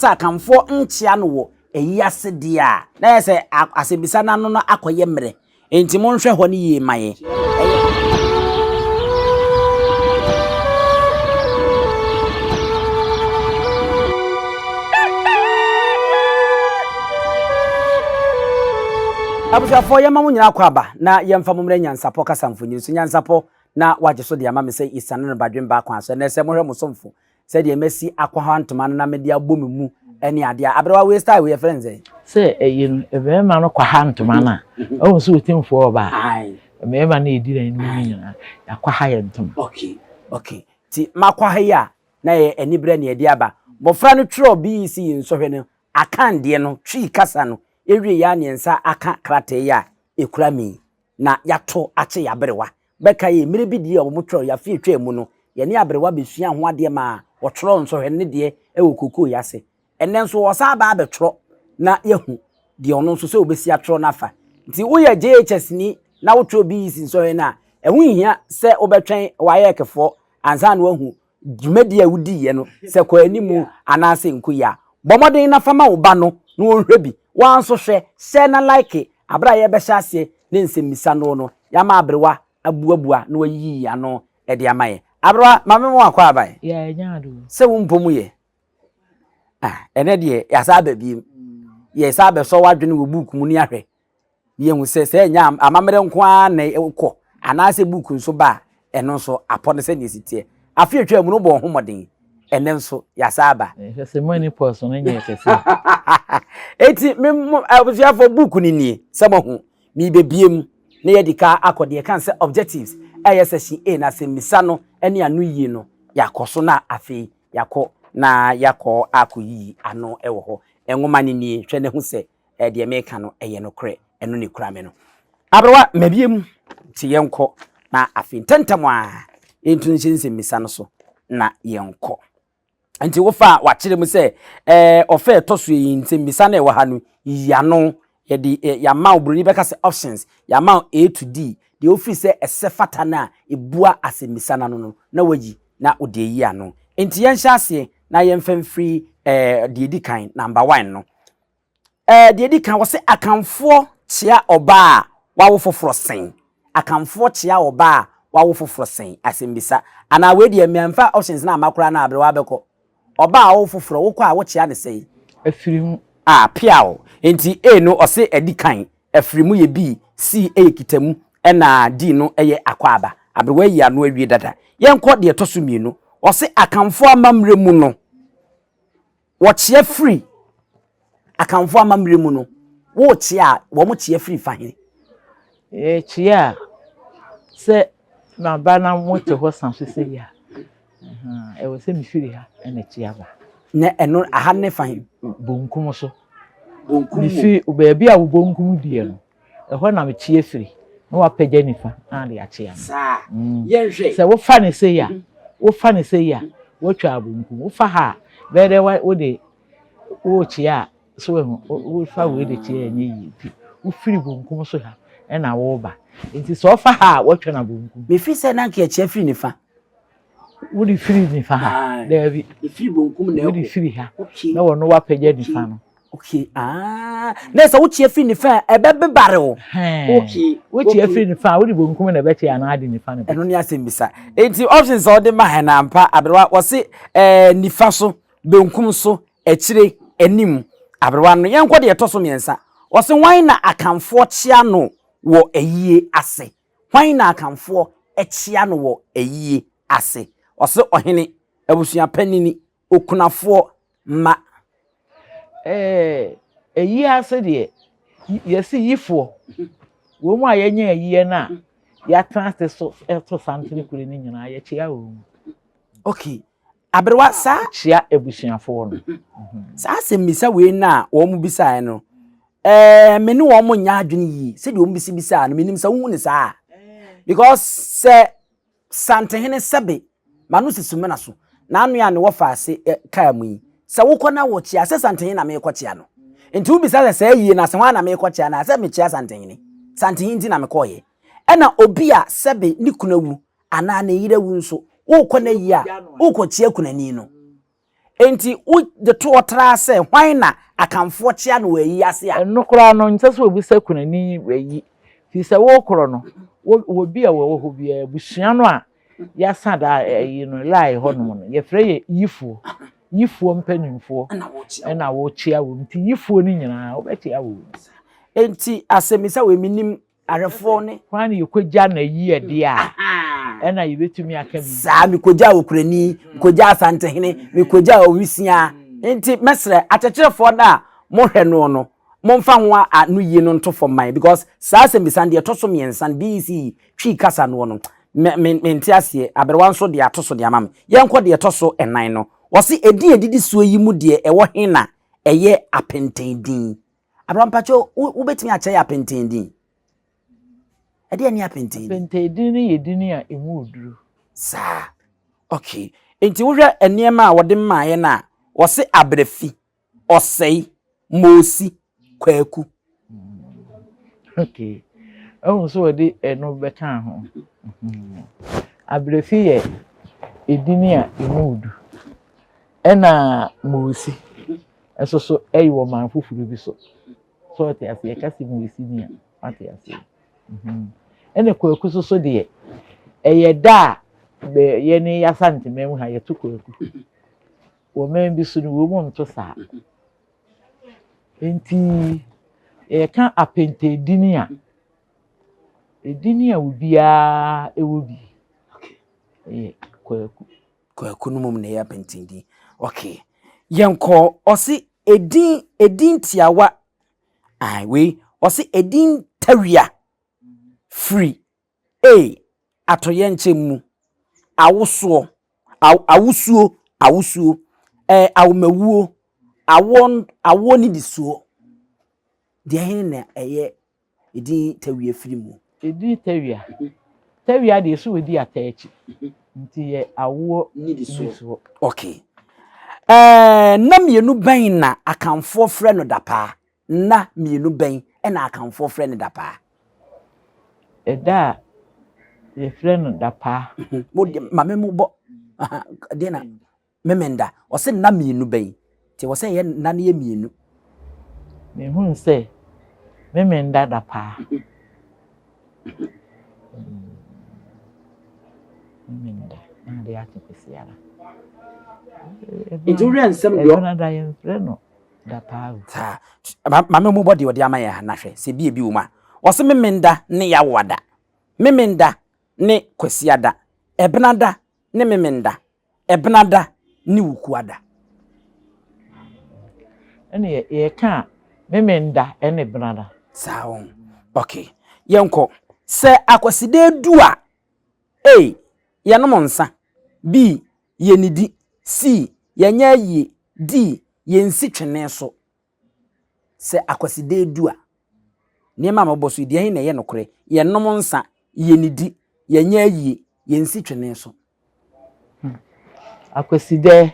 Sɛ Akanfoɔ nkyea no wɔ ayi ase deɛ a, na ayɛ sɛ asɛmmisa no ano no akɔyɛ mmerɛ. Enti monhwɛ hɔ no yie mma yɛn. Abusuafoɔ, yɛmma mo nyinaa akwaaba na yɛmfa mo mmrɛ Nyansapɔ kasa mfonyin so. Nyansapɔ na wagye so de ama me sɛ yɛsiane no badwemma kwan so. Ɛnnɛ sɛ mohwɛ mo somfo sɛdeɛ masi akwaha ntoma no na mede abɔ me mu ne adeɛ a, aberewa wei style wei yɛfrɛ no sɛn? Sɛ ɛyi no, mmarima no kwaha ntoma no a, ɔhu sɛ ɔtimfoɔ ɔbaa. Mmarima no yɛdi dɛn no mu nyinaa, yɛakwaha yɛ ntoma. Okay, okay. Nti makwaha yi a, na yɛ aniberɛ na yɛde aba. Mmɔfra no twerɛɔ BEC nsɔhwɛ no akandeɛ no, Twi kasa no, yɛwieeɛ a na yɛn nsa aka krataa yi a ɛkura me yi, na yɛato akyɛ yɛn aberewa. Bɛkae yi, mmerɛ bi deɛ a wɔtwerɛɛ yɛ afe a ɛtwaa mu no, yɛne aberewa bɛsuaa ho adeɛ maa wɔtwerɛɛ nsɔhwɛ no ne deɛ wɔ kookoo yi ase. Ɛnnɛ nso wɔsan aba abɛtwerɛ na yɛahu deɛ ɔno nso sɛ ɔbɛsi atwerɛ no afa. Nti woyɛ JHS ni na wotwerɛ BEC nsɔhwɛ no a, ɛho nhia sɛ wobɛtwɛn WAEC foɔ ansa na woahu dwumadi a wudiiɛ no, sɛ kɔ anim anaasɛ nko yi a, bɔ mmɔden na fa ma wo ba no na ɔnhwɛ bi. Wo ara nso hwɛ, hyɛ na like bere a yɛrebɛhyɛ aseɛ ne nsɛmmisa no no. Yɛama aberewa abuabua na wayiyi ano de ama yɛn. Aberewa, maame mo akɔ aban? Yeah, ɛnya ado. Sɛ wo mpɔ mu yɛ? Ah, ɛnɛ deɛ yɛasan aba bio. Yɛsan abɛsɔ w'adwene wɔ book mu ne ahwɛ. Yɛhu sɛ sɛ ɛnyɛ amammerɛ nko ara na ɛkɔ anaasɛ book nso ba a, ɛno nso apɔ no sɛdeɛ ɛsi teɛ. Afe atwa mu no bɔɔ ho mmɔden, ɛnɛ nso yɛasa aba. Ɛhwɛ sɛ mani pɔs no nyɛ kɛse. Eti me mo abusuafoɔ book no nie sɛ moahu merebɛbie mu na yɛadi ka akɔ deɛ ɛka sɛ objectives a ɛyɛ section A no asɛmmisa no ne ano yie no yɛakɔ so na afei yɛakɔ na yɛakɔ akɔyiyi ano wɔ hɔ. Nwoma no nie hwɛ na hu sɛ eh, deɛ meka no ɛyɛ nokorɛ ɛno na ɛkura me no aberewa mabie mu nti yɛnkɔ na afei ntɛntɛm a yɛntu nhyɛ nsɛmmisa no so na yɛnkɔ nti wofa a wakyerɛ mu sɛ eh, ɔfɛ ɛtɔ so yi nsɛmmisa no ɛwɔ ha no yiano yɛde eh, yɛama wo buroni bɛka sɛ options yɛama wo a to d deɛ wofiri sɛ ɛsɛ fata no a ɛbua asɛmmisa no ano no na wayi na wode ayi ano nti yɛnhyɛ aseɛ na yɛmfa mfiri eh, deɛ ɛdi kan number one no Ɛɛ, deɛ ɛdi kan, wɔse Akanfoɔ kyea ɔbaa a wawo foforɔ sɛn? Akanfoɔ kyea ɔbaa a wawo foforɔ sɛn? Asɛmmisa. Anaa wei deɛ mamfa options no amma koraa na aberewa bɛkɔ. Ɔbaa a ɔwo foforɔ, wokɔ a wokyea no sɛn? Afiri mu. A, peaw. Enti A no, ɔse ɛdi kan, afiri mu yɛ B, C yɛ kita mu, ɛna D no yɛ akwaaba. Aberewa ayi ano awie dada. Yɛnkɔ deɛ ɛtɔ so mmienu. Wɔse Akanfoɔ amammerɛ mu no. Wɔkyea firi Akanfoɔ amammerɛ mu no, wokyea a, wɔn kyea firi fa he? Yɛkyea a, sɛ maba na mote hɔ sa so sei a, ɛwɔ sɛ mefiri ha na kyea ba. Na ɛno, aha no ne fa he? Bonkum so. Bonkum mu. Mefiri baabi a wo bonkum deɛ no. Ɛhɔ na meteɛ firi. Na wapagya nifa na ade akyea me. Saa yɛnhwɛ. Sɛ wofa no sei a, wofa no sei a, woatwa abonku. Wofa ha a, bɛyɛ dɛ wode worekyea a, so wahu, wofa wei de kyea a ɛnyɛ yie. Nti wofiri bonkum so ha na woreba. Nti sɛ ɔfa ha a, woatwa no abonkum. Mefiri sɛ na anka yɛkyea firi nifa. Wode firi nifa ha. Daabi. Efiri bonkum na ɛkɔ. Wode firi ha. Okay. Na wɔn wapagya nifa no. Okay. Ah. Na sɛ wokyia firi nifa a ɛbɛ bebare o. Okay. Wokyia firi nifa a wode bonkum na ɛbɛkyɛ anaa ade nifa no. Ɛno ne asɛm bisa. Enti options a wɔde ma hɛn ampa aberewa wɔse ɛɛ nifa so, benkum so, akyire, anim. Aberewa no yɛnkɔ deɛ ɛtɔ so mmiɛnsa. Wɔse wɔn na akanfoɔ kyia no wɔ ayie ase. Hwan na Akanfoɔ kyea no wɔ ayie ase? Ɔse ɔhene, abusua panini, okunafoɔ, mma. Ɛɛ, ayie ase deɛ, yɛse yifoɔ, wɔn a yɛanya ayie no a yɛatena ase so to santene kure no nyinaa, yɛkyea wɔn. Okay, Aberewa, saa. Kyia abusuafo no. Saa asɛmmisa wei no a wɔbisaeɛ no, eh, me ne wɔn nyɛ adwene yie. Sɛdeɛ wɔbisibisaa no, menim sɛ wohu no saa. Because sɛ Santehene sɛbe, m'ano si Sumena so, n'ano a ne wɔfa ase eh, kaa mu yi, sɛ wokɔ na wɔkyia, sɛ Santehene na merekɔkyia no. Nti wobisa sɛ saa yie no ase hwan na merekɔkyia no a, sɛ mekyia Santehene. Santehene nti na mekɔeɛ. Ɛna obi a sɛbe ne kunu awu, anaa ne yere awu nso, worekɔ n'ayi a, worekɔkyea kunani no. Enti wode toɔ traa sɛ, Hwan na Akanfoɔ kyea no wɔ ayi ase a? Ɛno koraa no, ɛnsɛ sɛ wobisa kunani ayi, firi sɛ worekorɔ no wɔ obi a ɔwɔ hɔ biara, abusua no a yɛasa da ayi no, Lae hɔnom no, yɛfrɛ yɛn yifoɔ, yifoɔ mpanimfoɔ na wɔkyea wɔn. Enti yifoɔ no nyinaa, wobɛkyea wɔn. Enti asɛmmisa wei, mennim Awerɛfoɔ ne. Hwan na yɛkɔgya n'ayiedeɛ a ɛna yɛbɛtumi aka biribi. Saa, mekɔgyaa Okurani, mekɔgyaa Asantehene, mekɔgyaa Owisia. Nti mɛsrɛ akyɛkyerɛfoɔ no a mohwɛ noɔ no, momfa ho anoyie no nto fam mma yɛn because saa asɛmbisa no deɛ ɛtɔ so mmiɛnsa no BEC Twi kasa noɔ no, me, me, mente aseɛ. Aberewa nso deɛ ato so de ama me. Yɛnkɔ deɛ ɛtɔ so nnan no. Wɔse edin a ɛdidi soɔ yi mu deɛ ɛwɔ he na ɛyɛ apɛntɛn din? Abraham mpakyɛ wobɛtumi akyerɛ yɛ apentee din ɛdeɛ ne apentee apentee din no yɛ din a ɛmu oduru saa okay nti wohwɛ nneɛma a wɔde mmaeɛ no a wɔse abrɛfi ɔsɛe moosi kwaku hmm. okay ɛhu sɛ wɔde ɛno bɛka ho hmm. abrɛfi yɛ ɛdini a ɛmu odu ɛna moosi Ɛso so ɛyi wɔ man foforo bi so. So ɔte ase yɛka si mu esi ni a ɔte ase. Mhm. Ɛna kwaku so so deɛ ɛyɛ da a bɛ yɛ ne yasa ntoma mu ha yɛto kwaku. Wɔ man bi so no wɔ mu nto saa. Nti yɛka apɛntɛ edini a edini a obiara ɛwɔ bi ɛyɛ kwaku. Kwaku no mom na ɛyɛ apɛnten din. Okay. Yɛnkɔ ɔse edin edin tiawa ah wei ɔse edin tawia firi A atoyɛnkyɛm mu awosoɔ aw awosuo awosuo ɛɛ awomawuo awoɔ awoɔ nidisuo deɛ he na ɛyɛ Edin Tawia firi mu. Edin Tawia, Tawia deɛ so edi ata akyi nti yɛ awoɔ nnisoɔ. Ok. Ɛɛ nna mmienu bɛn na Akanfoɔ frɛ no dapaa? Nna mmienu bɛn na Akanfoɔ frɛ no dapaa? Ɛda a yɛfrɛ no dapaa. Mo deɛ, maame mo bɔ, aha, deɛ na. Memenda, ɔse nna mmienu bɛn? Nti ɛwɔ sɛ ɛyɛ nna no yɛ mmienu. Mehunu sɛ Memenda da paa. Memenda, na ade akye kwasiara. Nti wowerɛ nsɛm deɛ ɔ. Ɛdona da yɛmfrɛ no da paa o. Saa. Maame mmobɔ deɛ ɔde ama yɛn ha na hwɛ sɛ bi a ebi wɔ mu a. Ɔse Memenda ne Yawoada. Memenda ne Kwasiada. Ɛbenada ne Memenda. Ɛbenada ne Wukuada. Ɛne yɛ yɛka a Memenda ɛne Ɛbenada. Saa wɔn ok yɛnkɔ. Sɛ Akwasida du a, A, Yɛnom nsa B, Yɛnidi C, Yɛnyɛ ayie D, Yɛnsi twene so Sɛ Akwasida du a, nneɛma a mobɔ so yi, deɛ ɛhe na ɛyɛ nokorɛ? Yɛnnom nsã, yɛnnidi, yɛnyɛ ayie, yɛnsi twene so. Akwasida,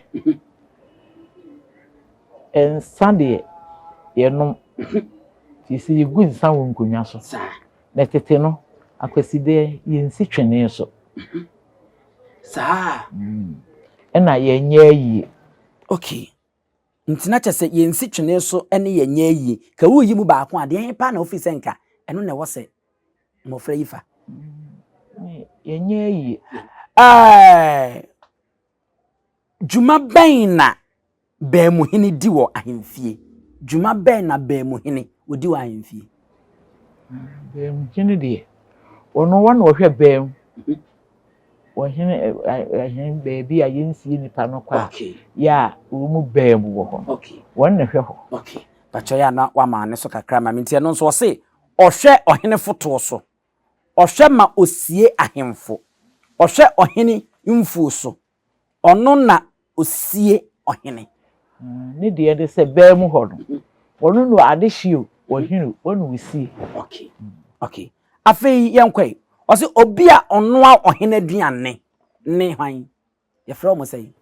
nsã deɛ yɛnom, ɛfiri sɛ yɛgu nsã wɔ nkonnwa so. Na tete no, Akwasida, yɛnsi twene so. Saa ara. Ɛna yɛnyɛ ayie. Okay. Nti na kyɛsɛ yɛnsi twene so ne yɛn nyɛ ayie. Ka wo yi mu baako a, deɛ he paa na wofiri sɛ nka ɛno na ɛwɔ sɛ mmɔfra yi fa? Yɛn nyɛ ayie. Ɛɛɛ! Dwuma bɛn na baamuhene di wɔ ahemfie? Dwuma bɛn na baamuhene ɔdi wɔ ahemfie? Bɛnmgye no deɛ ɔno wa na ɔhwɛ bɛn ɔhene ɛhɛn baabi a yɛnsie nipa no kɔ a yɛ a wɔn mu bɛn mu wɔ hɔ no wɔn na ɛhwɛ hɔ. Pakyɛ yɛ a na wama ne so kakra ma me nti ɛno nso ɔse ɔhwɛ ɔhene fotoɔ so ɔhwɛ ma ɔsie ahemfo ɔhwɛ ɔhene mfuo so Ɔno na osie ɔhene. Ne deɛ ne sɛ baa mu hɔ no. Ɔno na adehye o, ɔhene o, ɔno na osie. Okay, okay. Afei yɛnkɔ yi. Ɔse obi a ɔnoa ɔhene aduane ne hwan? Yɛfrɛ wɔn sɛn?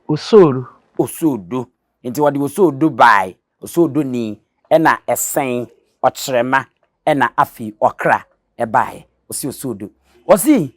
Osoodo. Osoodo. Nti wɔde osoodo bae. Osoodo ni ɛna ɛsɛn ɔkyerɛma ɛna afei ɔkra ɛbaeɛ. Ɔse osoodo. Ɔse.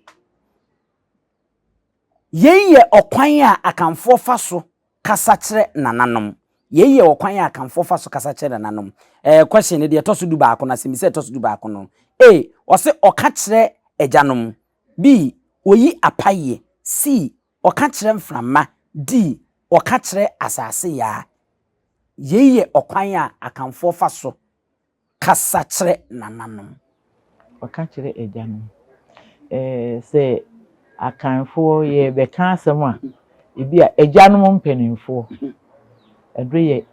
Yei yɛ ɔkwan a Akanfoɔ fa so kasa kyerɛ nananom. Yei yɛ ɔkwan a Akanfoɔ fa so kasa kyerɛ nananom. Ɛɛ, question no deɛ ɛtɔ so dubaako no, asɛmmisa a ɛtɔ so dubaako no, A, Ɔse ɔka kyerɛ agyanom. B, Ɔyi apayeɛ. C, Ɔka kyerɛ mframa. D, Ɔka kyerɛ asase yaa. Yei yɛ ɔkwan a Akanfoɔ fa so Kasa kyerɛ nananom. Ɔka kyerɛ agyanom. Ɛɛ, sɛ Akanfoɔ yɛrebɛka asɛm a, ebia agyanom mpanimfoɔ, ɛdɔ yɛ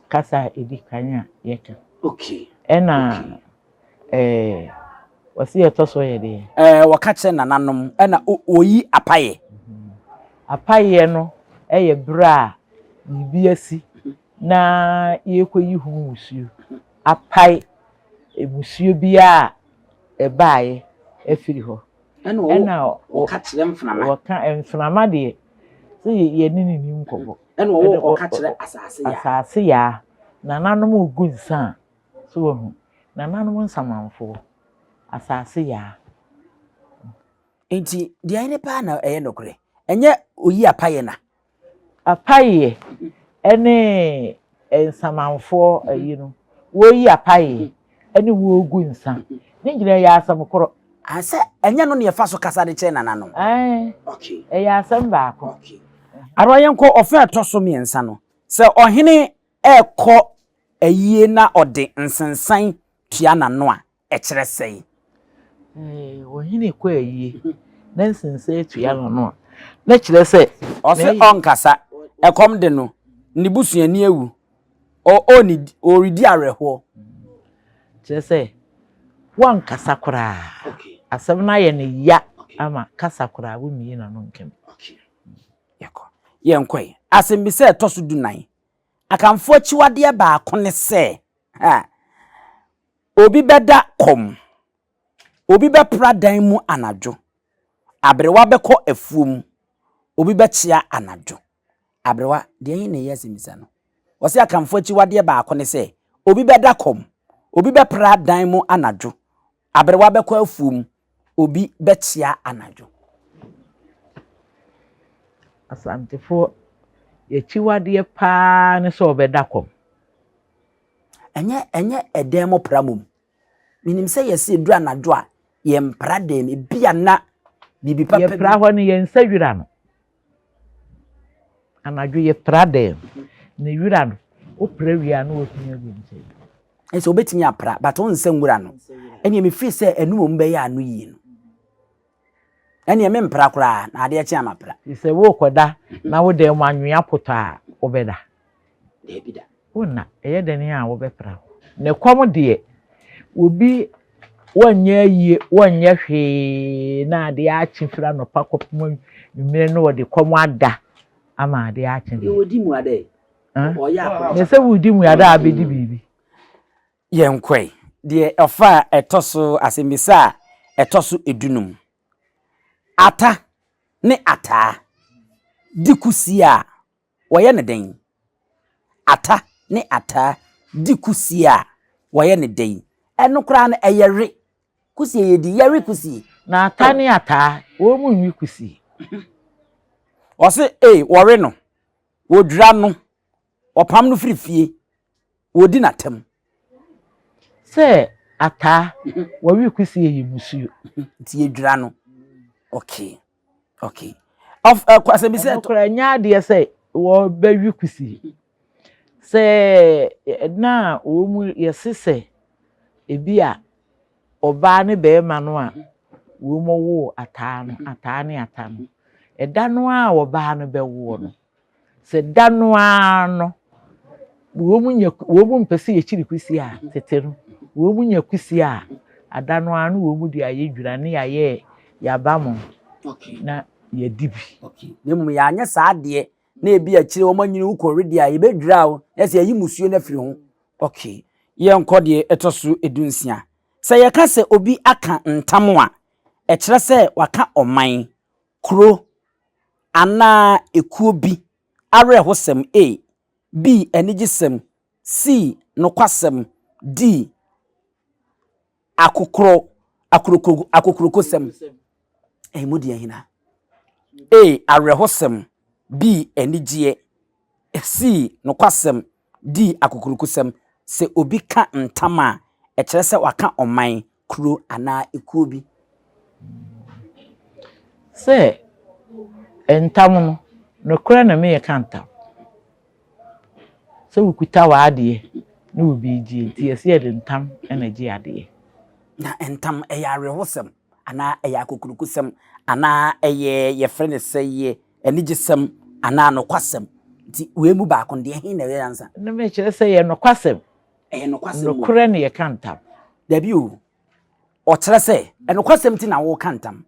kasa a ɛdi kan a yɛka. Okay. Ɛna ɛɛ, wɔsi ɛtɔ so yɛ deɛ. Ɛɛ, wɔka kyerɛ nananom, ɛna wɔyi apaeɛ. Apaeɛ no yɛ berɛ a biribi asi. na yɛrekɔyi ho mmusuo apae mmusuo biara a ɛbaeɛ afiri hɔ. Ɛnna wɔka kyerɛ mframa. Wɔka mframa deɛ, sɛ yɛne ne ni nkɔmmɔ. Ɛnna wɔka kyerɛ asase yaa. Asase yaa, nananom regu nsa a, so wɔhu. Nananom nsamanfoɔ, asase yaa. Enti deɛ ɛne paa na ɛyɛ nokorɛ, ɛnyɛ oyi apaeɛ na. Apayeɛ ɛne nsamanfoɔ ayi no wɔyi apayeɛ ɛne wɔgu nsa ne nyinaa yɛ asɛm korɔ. Ah sɛ ɛnyɛ no na yɛfa so kasa de kyerɛ nana no. Ɛɛ ɛyɛ asɛm baako. Ara yɛnkɔ ɔfɛ a ɛtɔ so mmiɛnsa no sɛ ɔhene ɛrekɔ ayie na ɔde nsensan tua nano a. ɛkyerɛ sɛn? Eh, ohene kɔ ayie na nsensa atua no no a, na kyerɛ sɛ. Ɔse ɔnkasa, ɛkɔm de no, ne busuani awu, ɔredi awerɛhoɔ. Kyerɛ sɛ wankasa koraa, asɛm no ayɛ no ya ama kasa koraa, wommie n'ano nka bi. Yɛkɔ, yɛnkɔe. Asɛmmisa a ɛtɔ so dunan. Akanfoɔ akyiwadeɛ baako ne sɛ, Obi bɛda kɔm. Obi bɛpra dan mu anadwo. Aberewa bɛkɔ afuom. Obi bɛkyea anadwo. Aberewa, deɛ he na ɛyɛ asɛmmisa no? Wɔse Akanfoɔ akyiwadeɛ baako ne sɛ, obi bɛda kɔm, obi bɛpra dan mu anadwo, aberewa bɛkɔ afuom, obi bɛkyea anadwo. Asantefoɔ, y'akyiwadeɛ paa ne sɛ wɔbɛda kɔm. Ɛnyɛ ɛnyɛ ɛdan mu pra mmom. Menim sɛ yɛse ɛduru anadwo a, yɛmpra dan mu. Ebia na biribi papa bi. Yɛpra hɔ no, yɛnsɛ wira no. Anadwo yɛpra dɛn? Na wira no, wopra wie a na woatumi agu ne sɛn? Ɛsɛ wobɛtumi apra but wonsɛ nwura no. Ɛneɛ mefiri sɛ ɛno mmom bɛyɛ ano yie no. Ɛneɛ mempra koraa na adeɛ kye a mapra. Sɛ worekɔda na wo dan mu anwea potɔ a, wobɛda? Daabida. Wo na, ɛyɛ dɛn a wobɛpra hɔ? Ne kɔm deɛ, obi wɔnyɛ ayie, wɔnyɛ hwee, na adeɛ akye firi anɔpa kɔpem anwummerɛ na ɔde kɔm ada ama adeɛ akye. Deɛ ɔdi mmuada yi, ɔyɛ akorɔmfoɔ. Na sɛ woredi mmuada a, abɛdi biribi. Yɛnkɔ ɛ. Deɛ ɔfa a ɛtɔ so, asɛmmisa a ɛtɔ so du no mu. Ata ne ataa di kusi a, Wɔyɛ no dɛn? Ata ne ataa di kusie a, wɔyɛ no dɛn? Ɛno koraa no, ɛyɛre. Kusie yɛdi, yɛre kusie. Na ata ne ataa, wɔnwe kusie. Wɔse ee, wɔwe no, wɔdwira no, wɔpam no firi fie, wɔdi no atɛm. Sɛ ataa, wɔwe kusie yɛ mmusuo. Nti yɛdwira no, okay. Okay. Of uh, kwase bi sɛ. Ɛno kora nyɛ adeɛ sɛ wɔbɛwi kusi. Sɛ ɛna a wɔn mu yɛse sɛ ebi a ɔbaa ne barima no a wɔn woo ataa no ataa ne ata no ɛda no a ɔbaa no bɛwoɔ no Sɛ da no ara no wɔn nya wɔn mpɛ sɛ yɛkyiri kwisi a tete no wɔn nya kwisi a ada no ara no wɔn de ayɛ dwira ne yɛayɛ yaba mo na yɛdi bi. Na mmom yɛanyɛ saa adeɛ na ebi akyire wɔn anyini wo kɔ wedeɛ a yɛbɛdwira wo na sɛ yɛyi musuo no afiri ho. Okay, yɛnkɔ deɛ ɛtɔ so edu nsia. Sɛ yɛka sɛ obi aka ntam a, ɛkyerɛ sɛ waka ɔman, kuro anaa ekuo bi awerɛhosɛm A. B. Anigyesɛm C. Nokwasɛm D. Akokorɔ, akoroko, akokurokosɛm Ɛyi mu deɛ hena? A. Awerɛhosɛm B. Anigyeɛ C. Nokwasɛm D. Akokurokosɛm Sɛ obi ka ntam a, ɛkyerɛ sɛ waka ɔman, kuro anaa ekuo bi. Sɛ ntam no, nokorɛ na me reka ntam, sɛ wokuta w'adeɛ ne wo birigyie nti yɛse yɛde ntam na egye adeɛ. Na ntam ɛyɛ awerɛhosɛm anaa ɛyɛ akokurokosɛm anaa ɛyɛ yɛfrɛ no sɛyɛ anigyesɛm anaa nokwasɛm nti wei mu baako no deɛ ɛhe na ɛyɛ nyansa? No mekyerɛ sɛ ɛyɛ nokwasɛm. Ɛyɛ nokwasɛm o. Nokorɛ na yɛka ntam. Dabi o. Ɔkyerɛ sɛ, nokwasɛm nti na woka ntam.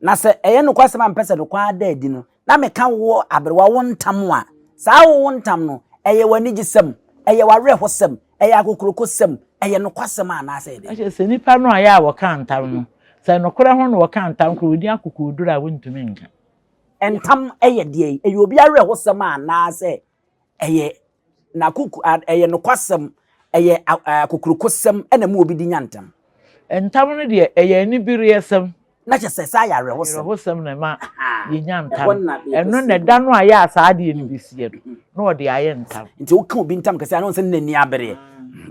Na sɛ ɛyɛ nokwasɛm a mepɛ sɛ ɛde kɔ ara da adi no, na meka wo aberewa wo ntam a, saa wo wo ntam no, ɛyɛ w'anigyesɛm, ɛyɛ w'awerɛhosɛm, ɛyɛ akokurokosɛm, ɛyɛ nokwasɛm a anaasɛ ɛyɛ dɛn? Sɛ nnipa no a ɛyɛ a wɔka ntam no, sɛ nokorɛ ho na wɔka ntam koraa a, wɔdi akokoɔduro a wɔntumi nka. Ntam yɛ deɛn? Ɛyɛ obi awerɛhosɛm a anaasɛ ɛyɛ n'akoko ɛyɛ nokwasɛm, ɛyɛ akokurokosɛm na mu obi di nya ntam. Ntam no deɛ ɛyɛ anibereɛsɛm. Na kyɛ sɛ saa yɛ awerɛhosɛm. Awerɛhosɛm na ɛma yɛnya ntam. Ɛno na ɛda no a yɛ a saa adeɛ no bɛsiɛ no, na ɔde ayɛ ntam. Nti woka obi ntam kɛse a, na ɔnsɛ no n'ani abereɛ.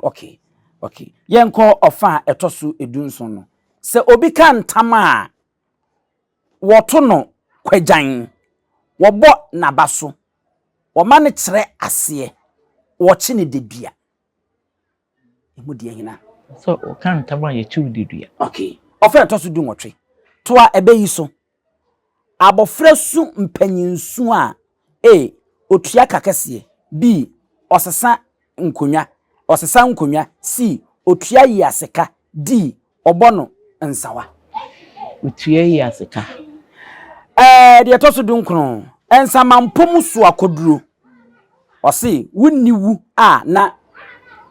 Okay, okay. Yɛnkɔ ɔfa a ɛtɔ so du nson no. Sɛ obi ka ntam a. Wɔto no kwagyan, wɔbɔ n'aba so, wɔma no kyerɛ aseɛ, wɔkye no dedua. Emu deɛ hena? Sɛ ɔka ntam a, yɛkye wo dedua. Okay. Ɔfrɛ a ɛtɔ so dunwɔtwe. Toa ɛbɛ yi so. Abɔfra su mpanyin su a. A, Otua ka kɛseɛ B, Ɔsesa nkonnwa Ɔsesa nkonnwa C, Otua yi ase ka D, Ɔbɔ no nsawa. Otua yi ase ka. Ɛɛ, deɛ ɛtɔ so dunkron, Nsamanpɔ mu so akɔduro. Ɔse wonni wu a na.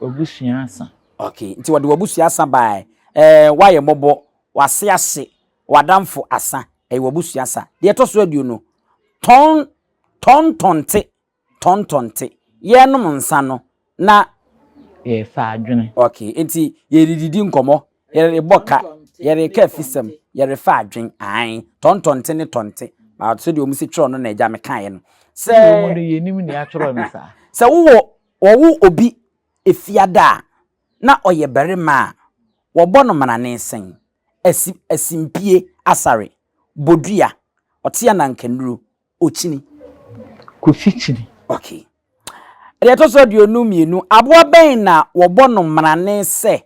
W'abusua asa. Ok, nti wɔde w'abusua asa baeɛ. Ɛɛ, woayɛ mmɔbɔ, w'ase ahye, w'adamfo asa, ɛyɛ w'abusua sa. Deɛ ɛtɔ so aduonu, tɔn tɔn tɔnte, tɔn tɔnte. Yɛrenom nsa no, na. Yɛrefa adwene. Okay, enti yɛredidi nkɔmmɔ, yɛrebɔ ka, yɛreka afisɛm, yɛrefa adwene, ae, tɔn tɔnte ne tɔnte, but sɛdeɛ wɔn si twerɛ no na agya mekaeɛ no. Sɛ. Wei mu no, yɛnnim nea wɔatwerɛ no saa. Sɛ wowɔ, wɔwo obi Efiada a, na ɔyɛ barima a, wɔbɔ no mmarane sɛn? Asim, Asimpie, Asare, Bodua, Ɔtea na Nkanuro, Okyini. Kofi Kyini. Ok. Deɛ ɛtɔ so aduonu mmienu, aboa bɛn na wɔbɔ no mmarane sɛ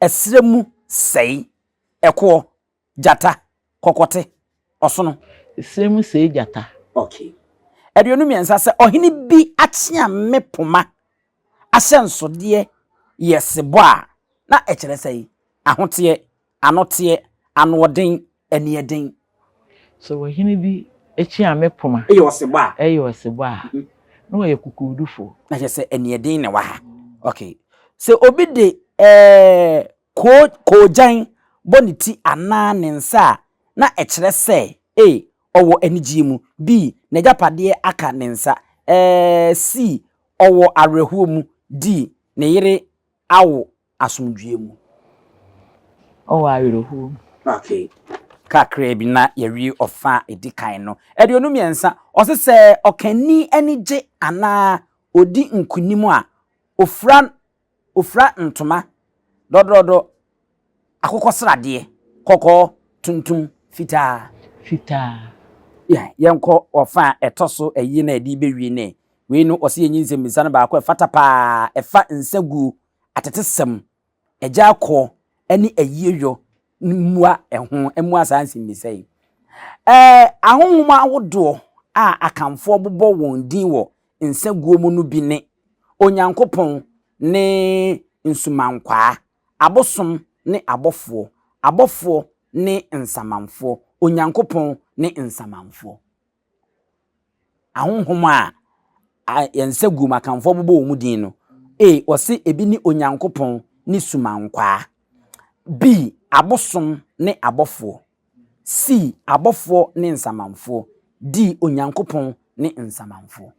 ɛserɛ mu sɛe? Ɛkoɔ, gyata, kɔkɔte, ɔsono. Ɛserɛ mu sɛe gyata. Ok. Aduonu mmiɛnsa, Sɛ ɔhene bi akyeame poma ahyɛnsodeɛ yɛ sebɔ a, na ɛkyerɛ sɛn? Ahoteɛ, anoteɛ, anoɔden, aniɛden. Sɛ ɔhene bi kyea me poma yɛ ɔsebɔ a, ɛyɛ ɔsebɔ a, na ɔyɛ kokoodufo. Na kyerɛ sɛ aniɛden na ɛwɔ ha. Okay. Sɛ obi de ɛɛ Ko, koogyan, bɔ ne ti anaa ne nsa a, na ɛkyerɛ sɛ A, ɔwɔ anigyeɛ mu, B, n'agyapadeɛ aka ne nsa, eh, C, ɔwɔ awerɛhoɔ mu, D, ne yere awo asomdwoeɛ mu. Ɔwɔ awerɛhoɔ mu. Okay. Kakraa bi na yɛawie ɔfã a ɛdi kan no. Aduonu mmiɛnsa, ɔse sɛ ɔkanni ani gye anaa ɔdi nkonim a, ɔfira Ofira ntoma, dɔdɔdɔ, akokɔsradeɛ, kɔkɔɔ, tuntum, fitaa. Fitaa. Yɛ, yɛnkɔ wɔ fa a ɛtɔ so ayie no a yɛde rebɛwie nnɛ. Wei no, wɔse yɛnyi nsɛmmisa no baako a ɛfata pa ara, ɛfa nsaguo, atetesɛm, agyakoɔ ne ayieyɔ no mmua ɛho, mmua saa nsɛmmisa yi. Ɛɛ, ahonhom ahodoɔ a Akanfoɔ bobɔ wɔn din wɔ nsa guo mu no bi ne, Onyankopɔn ne nsumankwaa, abosom ne abɔfoɔ, abɔfoɔ ne nsamanfoɔ, Onyankopɔn ne nsamanfoɔ. Ahonhom a a yɛn nsa guo mu akanfoɔ bobɔ wɔn mu din no, A, ɔse ebi ne Onyankopɔn ne sumankwaa, B, abosom ne abɔfoɔ. sii abɔfoɔ ne nsamanfoɔ, dii Onyankopɔn ne nsamanfoɔ.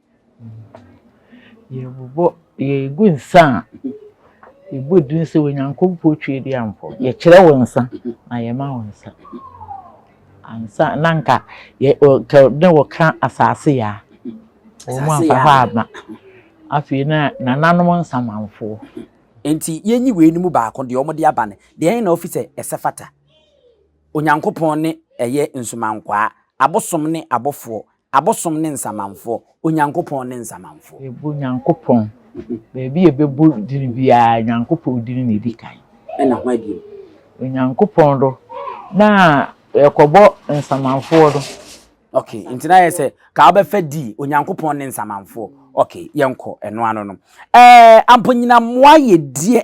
Yɛbobɔ, yɛgu nsa a, yɛbɔ din sɛ Onyankopɔn Tweaduamfoɔ. Yɛkyerɛ wo nsa na yɛma wo nsa. Ansa na nka yɛ ɔ ka na wɔka Asase Yaa. Wɔamfa hɔ amma. Afei na nananom nsamanfoɔ. Enti yɛnyi weinom baako deɛ wɔde aba no, deɛn na wofi sɛ ɛsɛ fata? Onyankopɔn ne ɛyɛ nsumankwaa, abosom ne abɔfoɔ, abosom ne nsamanfoɔ, Onyankopɔn ne nsamanfoɔ. Yɛbɔ Nyankopɔn, baabi yɛbɛbɔ dini biara Nyankopɔn dini na ɛdi kan. Ɛna hwan bio? Onyankopɔn do na yɛkɔbɔ nsamanfoɔ do. Ok, nti na yɛ sɛ ka wobɛfa di Onyankopɔn ne nsamanfoɔ. Ok, yɛnkɔ ɛno ano no. Ɛɛ, amponyinammoa yɛ deɛ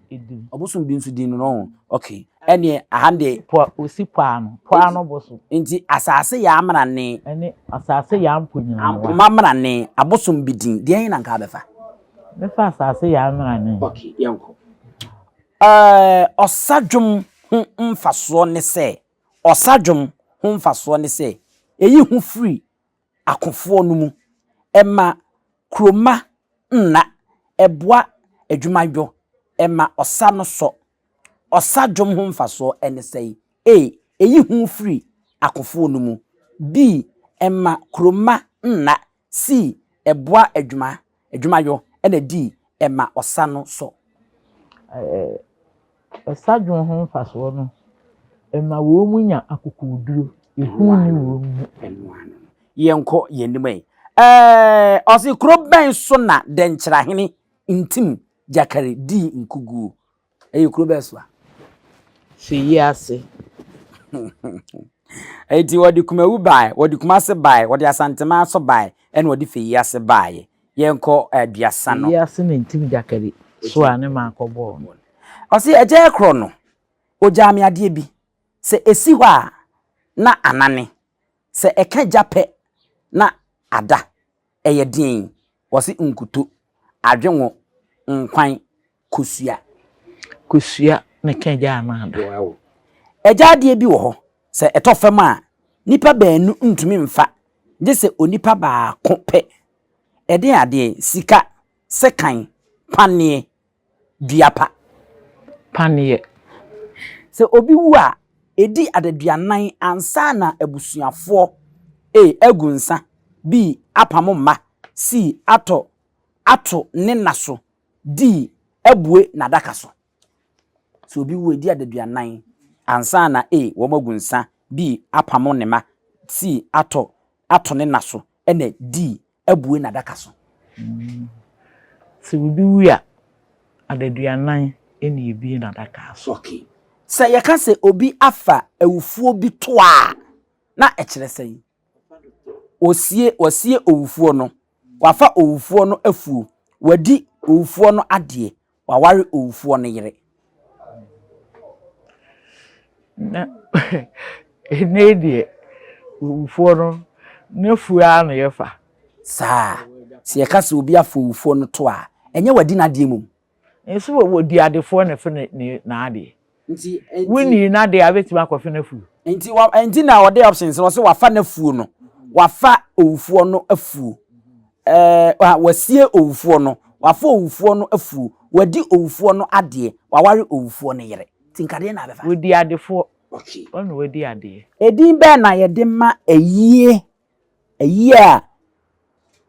edum. Ɔbosom bi nso din no no okay ɛneɛ aha deɛ. Po a osi po ano po ano bosom. Nti asaase yɛ amena ne. Ɛne asaase yɛ ampo nyina. Ampo ma mena ne abosom bi din deɛ na nka abɛfa. Bɛfa asaase yɛ amena ne. Okay yɛn kɔ. Ɛɛ ɔsa dwom ho nfasoɔ ne sɛ ɔsa dwom ho nfasoɔ ne sɛ eyi ho firi akofoɔ no mu, ɛma kuromma nna, ɛboa adwumayɔ, ɛma ɔsa no sɔ. Ɔsa dwom ho mfasoɔ ne sɛn? A. Ɛyi hu firi akofoɔ no mu. B. Ɛma kuromma nna. C. Ɛboa adwuma. Adwumayɔ na dii ma ɔsa no so. Ɛsa dwoɔ ho mfasoɔ no, ɛma wɔn nya akokoɔduro, ehu nni wɔn mu. Yɛnkɔ yɛn anim yi. Eh, ɔse kuro bɛn so na Dɛnkyerahene Ntim Gyakari dii nkuguo? Ɛyɛ kuro bɛɛ so a. Fi yi ase. Eti wɔde kumawu bae, wɔde kumase bae, wɔde asantema so bae, ɛna wɔde fi yi ase baeɛ. Yɛnkɔ aduasa no. Fi yi ase na ntim gyakari so a ne maa kɔ bɔɔ no. Ɔsi agya ɛkorɔ no, ogyaa me adeɛ bi. Sɛ esi hɔ a, na anane. Sɛ ɛka gya pɛ na ada. Ɛyɛ den. Ɔsi nkuto, adwengo, nkwan, Kosua. Kosua, meka agya anaa ada? Wow. Agya adeɛ bi wɔ hɔ, sɛ ɛtɔ fam a, nnipa baanu ntumi mfa, gye sɛ onipa baako pɛ. Ɛdeɛn adeɛ? Sika, sekan, paneɛ, dua pa. Paneɛ. Sɛ obi wu a, ɛdi adaduanan ansa na abusuafoɔ A, agu nsa, B, apamo mma, C, atɔ ato ne nna so, dii abue n'adaka so. Sɛ obi wu a, edi adaduanan ansa na a wɔagu nsã, dii apamo ne mma, sii atɔ ato ne nna so na dii abue n'adaka so. Sɛ obi wu a, adaduanan na ebue n'adaka so. Okay. Sɛ yɛka sɛ obi afa awufoɔ bi toa a, na ɛkyerɛ sɛn? Wɔasie owufoɔ no. Wafa owufoɔ no afuo. Wadi owufoɔ no adeɛ. Waware owufoɔ no yere. Na ɛnnɛ yi deɛ, owufoɔ no, n'afuo ara na yɛfa. Saa. Sɛ yɛka sɛ obi afa owufoɔ no to a, ɛnyɛ wadi n'adeɛ mmom. Nso wɔ wɔ di adefoɔ na fe ne ne n'adeɛ. Nti nti. Wo nii n'adeɛ a wobɛtumi akɔ fe n'afuo. Nti wa nti na ɔde options no ɔsɛ wafa n'afuo no wafa owufoɔ no afuo ɛɛ ah, wasie owufoɔ no wafa owufoɔ no afuo wadi owufoɔ no adeɛ waware owufoɔ no yere nti nkadeɛ na abɛfa. Wɔ di adefoɔ. Okay. Ɔno wɔ di adeɛ. Edin bɛn na yɛde ma ayie Ayie a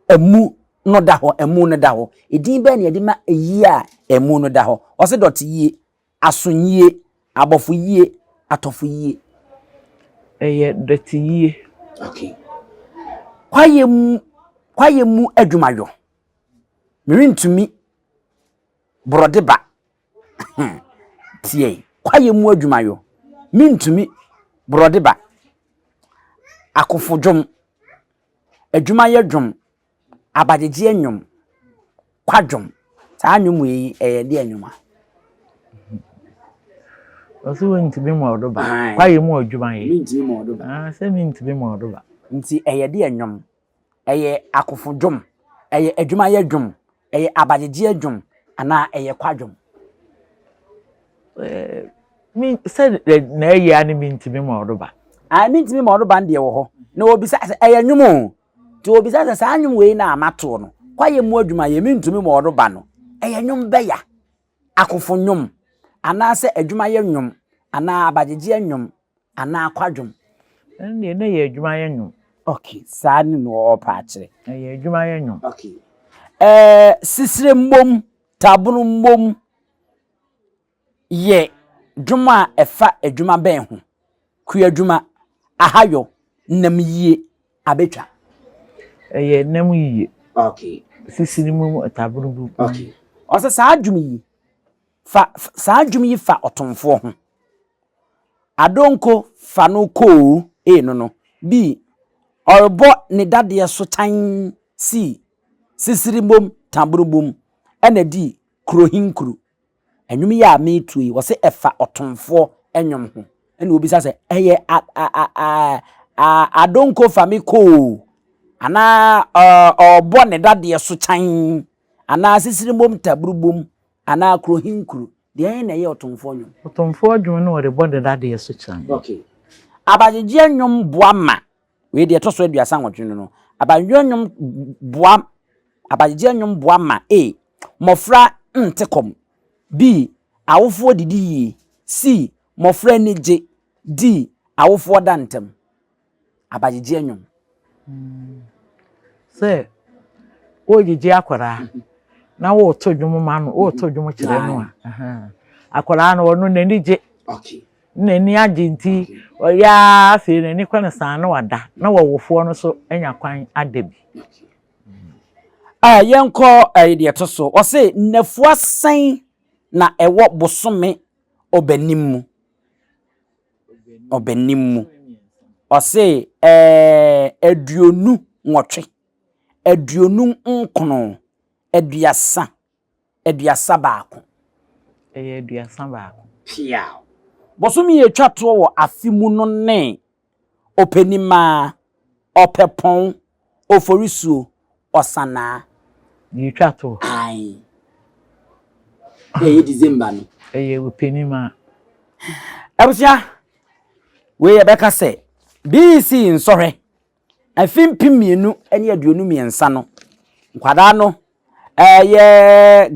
amu no da hɔ, amu no da hɔ. Edin bɛn na yɛde ma ayie a amu no da hɔ? Wɔse dɔteyie, asonyie, abɔfoyie, atɔfoyie. Ɛyɛ dɔteyie. Okay. Kwaeɛ mu, kwaeɛ mu adwumayɔ. Merentumi borɔde ba. Ahaa! Tie! Kwaeɛ mu adwuma yo, mentumi, Borɔde ba, Akofo dwom, Adwumayɛ dwom, Abagyegyeɛ nnwom, Kwadwom, saa nnwom wei yi ɛyɛ deɛ nnwom a? Ɔse wontumi mmɔɔdo ba, Kwaeɛ mu adwuma yo, Mentumi mmɔɔdo ba, Ɔse mentumi mmɔɔdo ba. Nti ɛyɛ deɛ nnwom? ɛyɛ akofo dwom, ɛyɛ adwumayɛ dwom, ɛyɛ abayɛdeɛ dwom anaa ɛyɛ kwadwom. sɛ na ɛyɛ a ne mentumi ma ɔdoba. Ah, mentumi ma ɔdoba deɛ wɔ hɔ na wɔbisa sɛ ɛyɛ nnwom o nti wɔbisa sɛ saa nnwom wei na amatoɔ no kwayɛ mu adwuma yɛ mentumi ma ɔdoba no ɛyɛ nnwom bɛya Akofo nnwom, anaasɛ adwumayɛ nnwom, anaa abagyegyeɛ nnwom, anaa kwadwom. Ɛno deɛ na ɛyɛ adwumayɛ nnwom. Ok, saa ne na ɔɔpɛ akyerɛ. Ɛyɛ adwumayɛ nnwom. Ok. Ɛɛ, sisire mmom, taabolo mmom yɛ dwom a ɛfa adwuma bɛn ho? kuadwuma, ahayɔ, nam yie, abɛtwa. Ɛyɛ nam yie, sisi no mu taboro bu. Ɔsɛ saa dwom yi fa saa dwom yi fa ɔtomfoɔ ho. Adonko fa no koo ee no no bi ɔrebɔ ne dadeɛ so kyan sii sisiri mom taboro bum ɛna di kurohinkuru. Nnwom yi a meretuo yi, wɔse ɛfa ɔtomfoɔ nnwom ho. Ɛna obisa sɛ, ɛyɛ a a a a a adonko fa me kɔ o, anaa ɔ ɔbɔ ne dadeɛ so kyan, anaa sisirimbom taburubom, anaa kurohinkuro. Deɛn na ɛyɛ ɔtomfoɔ nnwom? Ɔtomfoɔ nnwom ne wɔde bɔ ne dadeɛ so kyan. Okay. Abagyegyeɛ nnwom boa ma. Wei deɛ ɛtɔ so aduasa nwɔtwe no no, abayerɛ nnwom boa abayegyeɛ nnwom boa ma A. Mmɔfra nte kɔm B. Awofoɔ didi yie C. Mmɔfra ani gye D. Awofoɔ da ntɛm Abayegyeɛ nnwom. Sɛ woregyegye akwadaa na woreto dwom ma no, woreto dwom kyerɛ no a, akwadaa no ɔno n'ani gye. N'ani agye nti, ɔyɛ ara afei n'ani kɔ no saa na wada, na w'awofoɔ no nso anya kwan ada bi. Yɛnkɔ deɛ ɛto so, ɔse nnafua sɛn na ɛwɔ bosome Ɔbɛnim mu? Ɔbɛnim mu. Ɔse aduonu nwɔtwe, aduonu nkono, aduasa. aduasa baako. Ɛyɛ aduasa baako. Piaw. Bosome a ɛtwa toɔ wɔ afe mu no ne, Ɔpɛnimaa, Ɔpɛpɔn, Oforisuo, Ɔsanaa. Deɛ ɛtwa toɔ. Ae. Ɛyɛ December no. Ɛyɛ Ɔpɛnimaa. Abusua, wei yɛbɛka sɛ, BEC nsɔhwɛ Afe mpem mmienu ne aduonu mmiɛnsa no, nkwadaa no ɛyɛ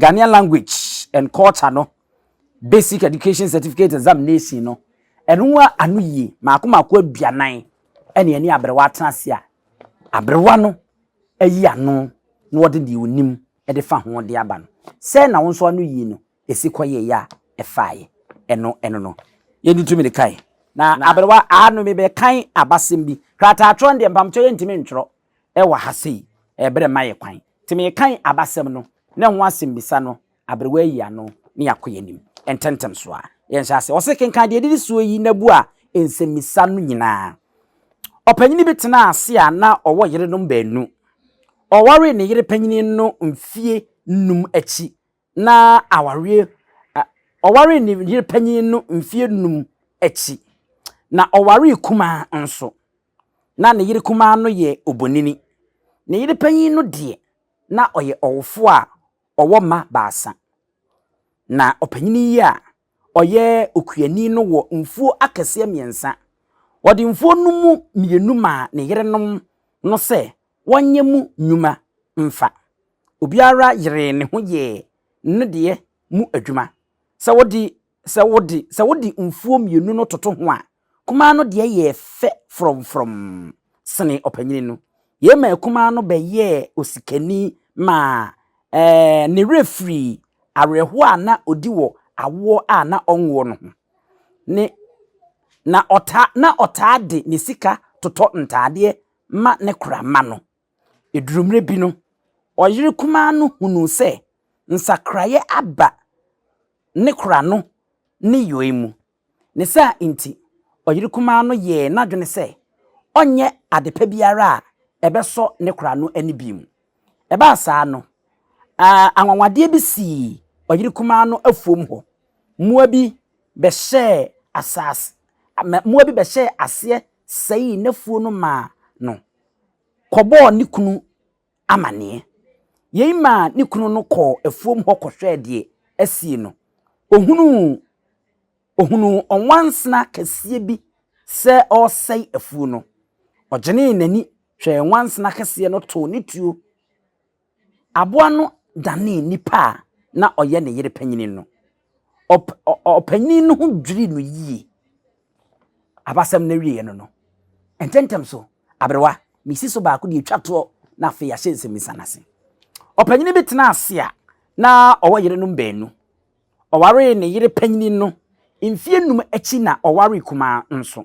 Ghanaian language and culture no basic education certificate examination no ɛno a ano yie mako mako aduanan ɛne ɛne aberewa atena ase a aberewa no ayi ano na ɔde deɛ onim ɛde fa ho de aba no sɛ na wɔn nso ano yie no esi kɔyɛe a ɛfae ɛno ɛno no, yɛde tumi de kae. Na aberewa, aano mebɛkan abasɛm bi. Krataatwerɛ no deɛ, mpamokyɛ yɛntumi ntwerɛ wɔ ha sei, berɛ mma yɛn kwan. Nti merekan abasɛm no, ne ho asɛmmisa no, aberewa ayi ano, ne yɛakɔ yɛn anim ntɛmntɛm so ara. Yɛnhyɛ aseɛ. Wɔse, Kenkan deɛ ɛdidi soɔ yi na bua nsɛmmisa no nyinaa. Ɔpanyini bi tenaa ase a na ɔwɔ yerenom baanu. Ɔwaree ne yere panyini no mfeɛ nnum akyi na awareɛ ɛ ɔwaree ne yere panyin no mfeɛ nnum akyi, na ɔwaree kumaa nso. Ná ne yere kumaa no yɛ obonini. Ne yere panyin no deɛ, na ɔyɛ ɔwofoɔ a ɔwɔ mma baasa. Na ɔpanyin yi a ɔyɛ okuani no wɔ mfuo akɛseɛ mmiɛnsa. Ɔde mfuo no mu mmienu maa ne yerenom no sɛ wɔnyɛ mu nnwuma mfa. Obiara yeree ne ho yɛɛ ne deɛ mu adwuma. Sɛ wode, sɛ wode, sɛ wode mfuo mmienu no toto ho a, Kumaa no deɛ yɛɛ fɛ frɔmfrɔm sene ɔpanyini no. Yei maa kumaa no bɛyɛɛ osikani maa ne werɛ firii awerɛhoɔ a na ɔdi wɔ awoɔ a na ɔnwoɔ no ho. Ne na ɔtaa na ɔtaa de ne sika totɔ ntaadeɛ ma ne kora mma no. Ɛduruu mmerɛ bi no, ɔyere kumaa no hunuu sɛ nsakraeɛ aba ne kora no ne yɔe mu. Ne saa nti, ɔyere kumaa no yɛɛ n'adwene sɛ ɔnyɛ adepa biara a ɛbɛsɔ ne kora no ani bio. Ɛbaa saa no, anwanwadeɛ bi sii ɔyere kumaa no afuom hɔ. Mmoa bi bɛhyɛɛ asase, mmoa bi bɛhyɛɛ aseɛ sɛee n'afuo no maa no kɔbɔɔ ne kunu amanneɛ. Yei maa ne kunu no kɔɔ afuom hɔ kɔhwɛɛ deɛ asie no. Ɔhunuu ɔhunuu ɔnwansena kɛseɛ bi sɛ ɔresɛe afuo no. Ɔgyenee n'ani hwɛɛ nwansena kɛseɛ no too ne tuo. Aboa no danee nipa a na ɔyɛ ne yere panin no. Ɔp ɔ ɔpanyin no ho dwirii no yiye. Abasɛm no wieeɛ no no, ntɛmntɛm so, aberewa, mesi so baako deɛ ɛtwa toɔ na afei yɛahyɛ nsɛmmisa no ase. Ɔpanyin bi tenaa ase a na ɔwɔ yerenom baanu. Ɔwaree ne yere panyin no mfeɛ nnum akyi na ɔwaree kumaa no nso.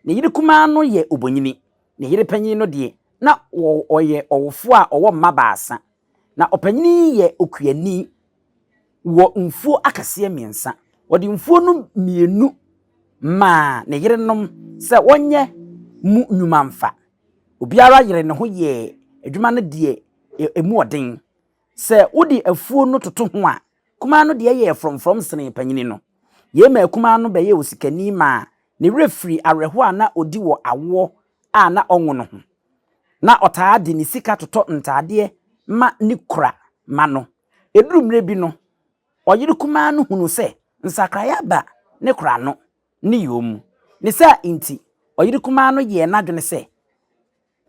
Ne yere kumaa no yɛ obonyini. Ne yere panyin no deɛ, na ɔ ɔyɛ ɔwofoɔ a ɔwɔ mma baasa. Na ɔpanyin yi yɛ okuani wɔ mfuo akɛseɛ mmiɛnsa. Ɔde mfuo no mmienu maa ne yerenom sɛ wɔnyɛ mu nnwuma mfa. Obiara yeree ne ho yɛɛ adwuma no deɛ ɛmu ɔden. Sɛ wode afuo no toto ho a, kumaa no deɛ yɛɛ frɔmfrɔm senee panyini no. Yei maa kumaa no bɛyɛɛ osikani maa ne werɛ firii awerɛhoɔ a na ɔdi wɔ awoɔ a na ɔnwono ho. Ná ɔtaa de ne sika totɔ ntadeɛ ma ne kura mma no. Ɛduru mmerɛ bi no, ɔyere kumaa no hunuu sɛ nsakraeɛ aba ne kura no ne yɔɔ mu. Ne saa nti, ɔyere kumaa no yɛɛ n'adwene sɛ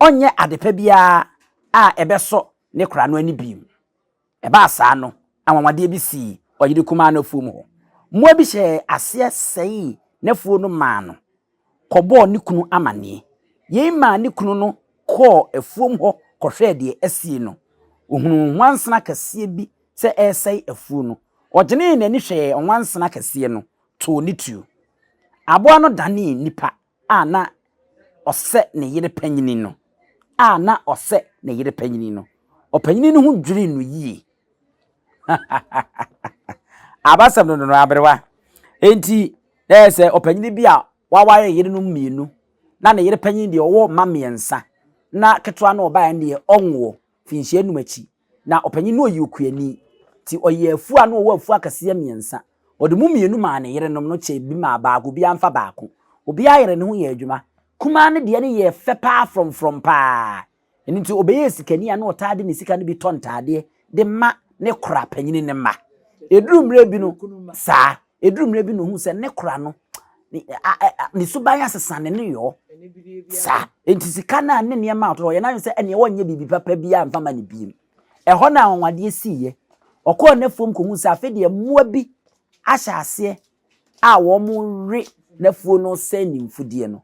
ɔnyɛ adepa biara a ɛbɛsɔ ne kura no ani bio. Ɛbaa saa no, anwanwadeɛ bi sii ɔyere kumaa no afuom hɔ. Mmoa bi hyɛɛ aseɛ sɛee n'afuo no maa no kɔbɔɔ ne kunu amanneɛ. Yei maa ne kunu no kɔɔ afuom hɔ kɔhwɛɛ deɛ asie no. Ɔhunuu nwansena kɛseɛ bi sɛ ɛresɛe afuo no. Ɔgyenee n'ani hwɛɛ nwansena kɛseɛ no too ne tuo. Aboa no danee nipa a na ɔsɛ ne yere panyin no, a na ɔsɛ ne yere panyin no, ɔpanyin no ho dwirii no yie. Abasɛm no no aberewa. Enti, na ɛyɛ sɛ ɔpanyin bi a waware yerenom mmienu, na ne yere panyin deɛ ɔwɔ mma mmiɛnsa, na ketewa no ɔbaeɛ no deɛ ɔnwoɔ, mfinhyia nnum akyi Na ɔpanyin no ɔyɛ okuani, nti ɔyɛɛ afua na ɔwɔ afua akɛseɛ mmiɛnsa. Ɔde mu mmienu maa ne yerenom no kyɛɛ bi maa baako, obiara mfa baako. Obiara yeree ne ho yɛɛ adwuma. Kumaa no deɛ no yɛɛ fɛ pa ara frɔmfrɔm pa ara. Ɛno nti ɔbɛyɛɛ sikani a na ɔtaa de ne sika no bi tɔ ntaadeɛ de ma ne kora panyin no mma. Ɛduruu mmerɛ bi no, saa. Eduru mmerɛ bi na ohuu sɛ ne kora no ne suban asesa ne ne yɔɔ saa nti sika no a ne nneɛma a ɔyɛ n'adwene sɛ ɛneɛ wɔnyɛ biribi papa biara mfa ma ne biem ɛhɔ na anwanwadeɛ siiɛ ɔkɔɔ n'afuom kɔhu sɛ afei deɛ mmoa bi ahyɛ aseɛ a wɔwe n'afuo no sɛ ne mfudeɛ no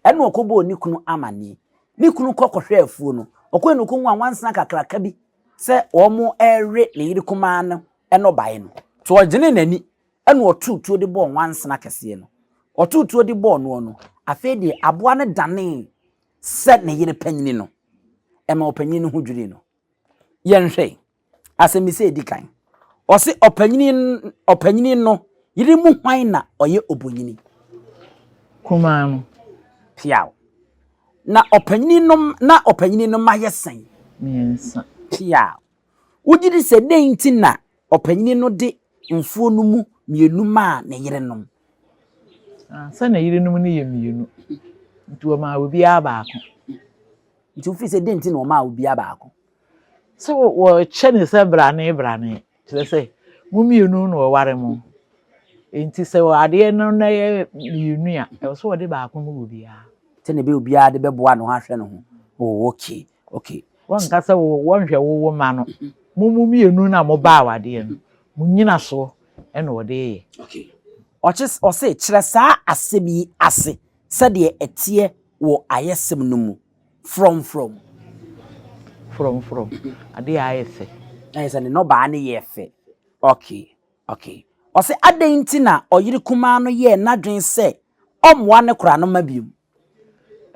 ɛna ɔkɔbɔɔ ne kunu amanneɛ ne kunu kɔ kɔhwɛ afuo no ɔkɔɛ na ɔkɔhu anwansena kakraka bi sɛ wɔwe ne yere kumaa no no bae no, nti ɔgyenee n'ani na ɔtoo tuo de bɔɔ nwansena kɛseɛ no. Ɔtoo tuo de bɔɔ noɔ no, afei deɛ aboa no danee sɛ ne yere panyini no. Ɛmaa ɔpanyini no ho dwirii no. Yɛnhwɛ asɛmmisa a ɛdi kan. Ɔse ɔpanyini ɔpanyini no yere mu hwan na ɔyɛ obonyini? Kumaa no. Piaw. Na ɔpanyini no na ɔpanyini no mma yɛ sɛn? Mmiɛnsa. Piaw. Wogye di sɛ dɛn nti na ɔpanyin no de mfuw no mu mmienu maa ne yerenom? Na sɛ ne yerenom no yɛ mmienu, nti wɔmaa obiara baako. Nti wofii sɛ dɛn nti na wɔmaa obiara baako? Sɛ wɔkyɛ ne sɛ brane brane, kyerɛ sɛ mo mmienu na wɔware mo. Nti sɛ adeɛ no na yɛ mmienu a, ɛwɔ sɛ wɔde baako ma obiara. Sɛnea ɛbɛyɛ obiara de bɛboa ne ho ahwɛ ne ho. Oh, okay. Okay. Wɔnka sɛ wo wɔnhwɛ wo wo mma no. Mo mo mmienu na mo ba awadeɛ no. Mo nyina soɔ ɛna wɔde yɛ. Okay. Ɔkye ɔse kyerɛ saa asɛm yi ase sɛdeɛ ɛteɛ wɔ ayɛsɛm no mu. Frɔmfrɔm. Frɔmfrɔm. Adeɛ a ayɛ fɛ. Ayɛ sɛ ne nnɔbaa no yɛ fɛ. Okay. Okay. Ɔse adɛn nti na ɔyere kumaa no yɛɛ n'adwene sɛ ɔmmoa ne koranoma biom.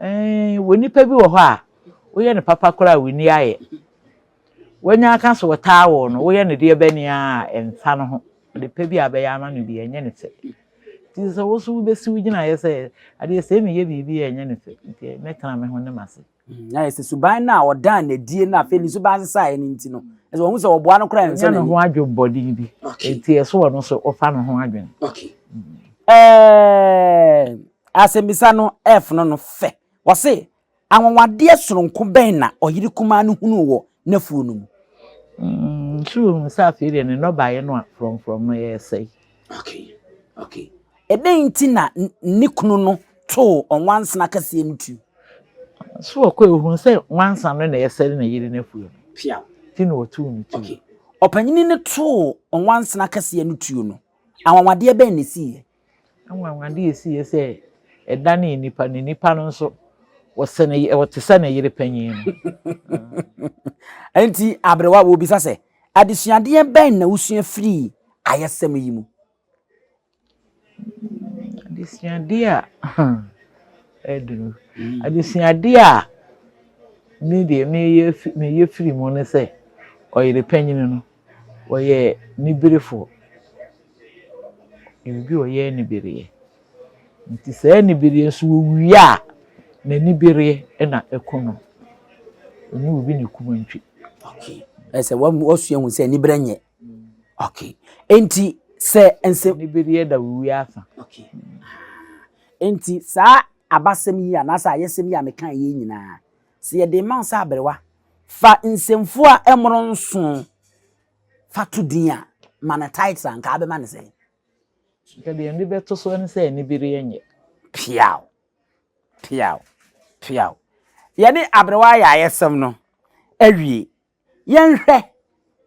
Eeii wɔ nnipa bi wɔ hɔ a woyɛ no papa koraa a wonni ayɛ wanya aka sɛ ɔtaa wo no woyɛ no deɛ bɛn a ɛmfa no ho ade pa bi a bɛyɛ ama no bi ɛnyɛ ne fɛ nti sɛ wo so wobɛsi wo gyinaeɛ sɛ adeɛ sɛ meyɛ biribi a ɛnyɛ ne fɛ nti mɛtena me ho ne m'ase Na yɛ sɛ suban no a ɔdaa no adie no afei ne suban sesaeɛ no nti no, ɛsɛ wɔhu sɛ wɔboa no koraa nsɔ n'ani. Ɔnya ne ho adwemmɔne bi, nti ɛsɛ ɔno nso ɔfa ne ho adwene. Okay. Ɛɛ asɛmmisa no ɛɛfono no fɛ. Wɔse, anwanwadeɛ sononko bɛn na ɔyere kumaa no hunuu wɔ n'afuo no mu. Nso wohu sɛ afei deɛ ne nnɔbaeɛ no a frɔmfrɔm no resɛe. Okay, okay. Ɛdɛn nti na ne kunu no too ɔnwansena kɛseɛ no tu? So ɔkɔe ohuu sɛ nwansa no na ɛresɛe ne yere n'afuo no. Pia. Ti na ɔtoo no tuo. Okay. Ɔpanyini no too ɔnwansena kɛseɛ no tuo no, anwanwadeɛ bɛn na ɛsiiɛ? Anwanwade a esiiɛ sɛ ɛdanee nipa no, nipa no nso wɔsɛ ne yere, wɔte sɛ ne yere panyin no. Enti aberewa wɔbisa sɛ, adesuadeɛ bɛn na wosua firii ayɛsɛm yi mu? Adesuadeɛ a ɛduru, hmm. adesuadeɛ a me deɛ meyɛ firi mu ne sɛ ɔyere panyin no. Wɔyɛ niberefoɔ. Yɛwɔ obi a ɔyɛ anibereɛ. Nti saa anibereɛ nso ɔwie a, n'anibereɛ na ɛku no. Ɛnyɛ obi na ɛku nantwie. Okay. Ɛsɛ wɔasua hu sɛ anibereɛ nyɛ. Okay. Nti sɛ nsɛm. Anibereɛ da ɔwie asa. Okay. Nti saa abasɛm yi anaasɛ ayɛsɛm yi a meka yɛ nyinaa sɛ yɛde rema wo sɛ aberewa, fa nsɛmfua a ɛmmoro nson fa to din a, ma no title a, anka wobɛma no sɛn? Anka deɛ mede bɛto so ne sɛ anibereɛ nyɛ. Peaw! Peaw! Peaw! Yɛne aberewa ayɛ ayɛsɛm no awie. Yɛnhwɛ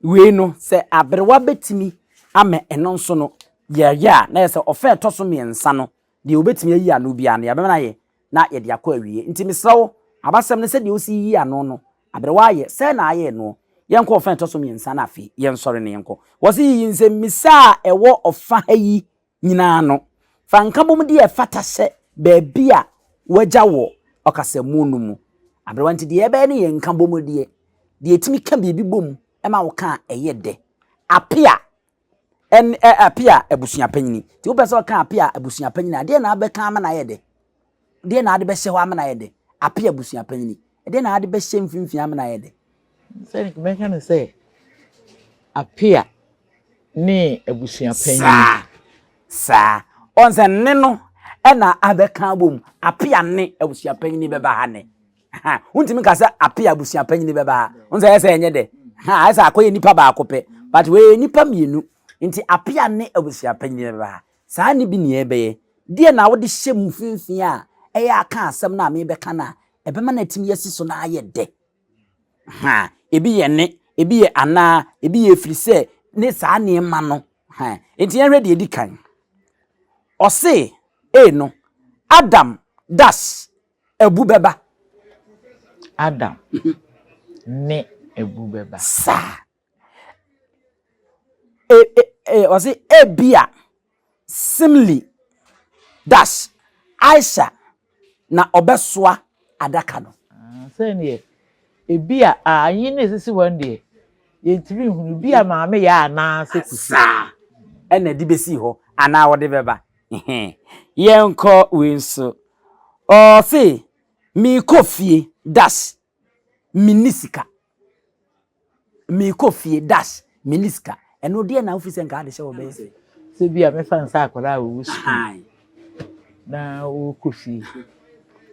wei no, sɛ aberewa bɛtumi ama ɛno nso no yɛyɛ a, na yɛ sɛ ɔfa a ɛtɔ so mmiɛnsa no, deɛ ɔbɛtumi ayi ano biara no, yɛbɛma no ayɛ na yɛde akɔ awie. Nti mesrɛ wo, abasɛm no sɛdeɛ wosi yi ano no, aberewa ayɛ, sɛn na ayɛ noɔ? Yɛnkɔ ɔfa a ɛtɔ so mmiɛnsa no afei, yɛnsɔre na yɛnkɔ. Wɔse yiyi nsɛmmisa a ɛwɔ ɔfa ha yi nyinaa no, fa nkabom deɛ ɛfata hyɛ baabi a woagya wɔ ɔkasamu no mu. Aberewa nti, deɛ ɛbɛyɛ no yɛ nkabom deɛ, deɛ ɛtumi ka biribi bom ma wo ka a ɛyɛ dɛ. Apea ɛne ɛ apea abusuapanyini. Nti wopɛ sɛ ɔka apea abusuapanyini a, deɛ na abɛka ama no ayɛ dɛ? Deɛ na ade bɛhyɛ hɔ amena ayɛ dɛ? Ape abusua panyini. Ɛdeɛ na ade bɛhyɛ mfimfini amena ayɛ dɛ? Sɛdeɛ mɛka no sɛ apea ne abusua panyini. Saa. Saa. Ɔn sɛ nne no ɛna abɛka abom. Apea ne abusua panyini bɛba ha nɛ. Ha. Wontumi ka sɛ apea abusua panyini bɛba ha. Ɔn sɛ ɛyɛ sɛ ɛnyɛ dɛ. Ha. Ɛyɛ sɛ akɔyɛ nipa baako pɛ. But wɔyɛ nipa mmienu. Nti apea ne abusua panyini bɛba ha. Saa nne bi nea ɛbɛyɛ. Deɛn na wode hyɛ mu finfin a ɛyɛ a ka asɛm no a merebɛka no a ɛbɛma no atumi asi so na ayɛ dɛ? Ha, ebi yɛ ne, ebi yɛ anaa, ebi yɛ ɛfiri sɛ, ne saa nneɛma no. Ha, enti yɛnhwɛ deɛ ɛdi kan. Ɔse, e no, Adam, dash, abu bɛba. Adam, ne abu bɛba. Saa. Ɔse ebia, Simly, dash, Aisha na ɔbɛsoa adaka no. Sɛdeɛ ebia, ayin na esisi hɔ no deɛ, yɛntumi nhunu. Ebia maame yɛ anaa sɛ kusi. Saa na ɛde bɛsi hɔ anaa ɔde bɛba. Yɛnkɔ wei nso. Ɔse, Merekɔ fie, dash, menni sika. Mekɔ fie dash menni sika. Ɛno deɛ na wofi sɛ nka ade sɛ wɔbɛyɛ sɛ. Sɛ bi a mɛfa nsa akwadaa a wɔwɔ sukuu na wɔkɔ fie.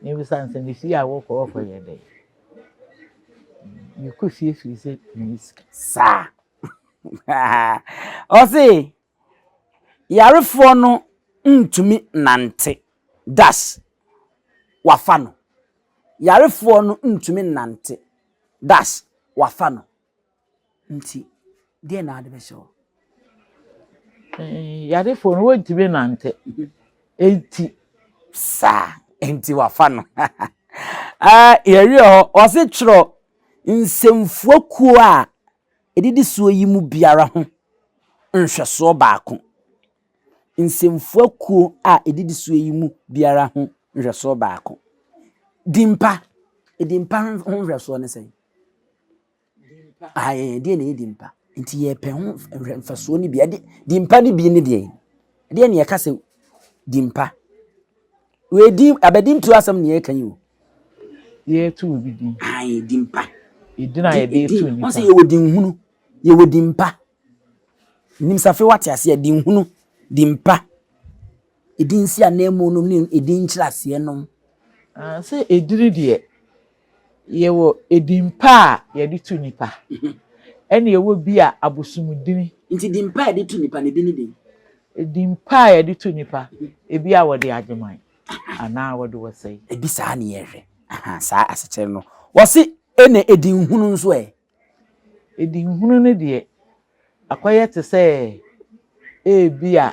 Mebisa nsɛ ne fie a wɔkɔ wɔkɔ yɛ dɛ. Mekɔ fie firi sɛ menni sika. Saa. Ɔse. Yarefoɔ no ntumi nnante das wafa no Yarefoɔ no ntumi nnante das wafa no Nti deɛ na wode bɛhyɛ hɔ? Eh, yarefoɔ no wɔntumi nnante Nti saa Nti wafa no ah, Yɛwie hɔ, ɔse twerɛ nsɛmfua kuo a Edidisoɔ yi mu biara ho nhwɛsoɔ baako. Nsɛmfua kuo a edidisoɔ yi mu biara ho nhwɛsoɔ baako. Din pa, din pa ho nhwɛsoɔ ne sɛn? Ae, deɛ na ɛyɛ din pa. Nti yɛpɛ ho nhwɛsoɔ no bi. Ɛde, din pa no bi ne deɛ. Ɛdeɛ na yɛka sɛ din pa. Wei din aba din tu asɛm nea ɛka yi o. Yɛtu obi din. Ayi din pa. Edin a yɛde etu nipa. Wɔn sɛ yɛwɔ din hunu, yɛwɔ din pa. Nim safe wate aseɛ din hunu, din pa. Edin si ananmu nom ne edin nkyerɛ aseɛ nom. Ah, sɛ edini deɛ. Yɛwɔ edin pa a yɛde to nnipa, ɛnna yɛwɔ bi a abosomdini. Nti din pa a yɛde to nnipa no, ebi ne den? Edin pa a yɛde to nnipa, ebi a wɔde agyeman anaa wɔde wɔsɛe. Ebi saa ne yɛhwɛ. Ahaa, saa asekyerɛ no. Wɔse, Ɛnna edin hunu nso ɛ? Adihunu no deɛ, akɔyɛ te sɛ ebia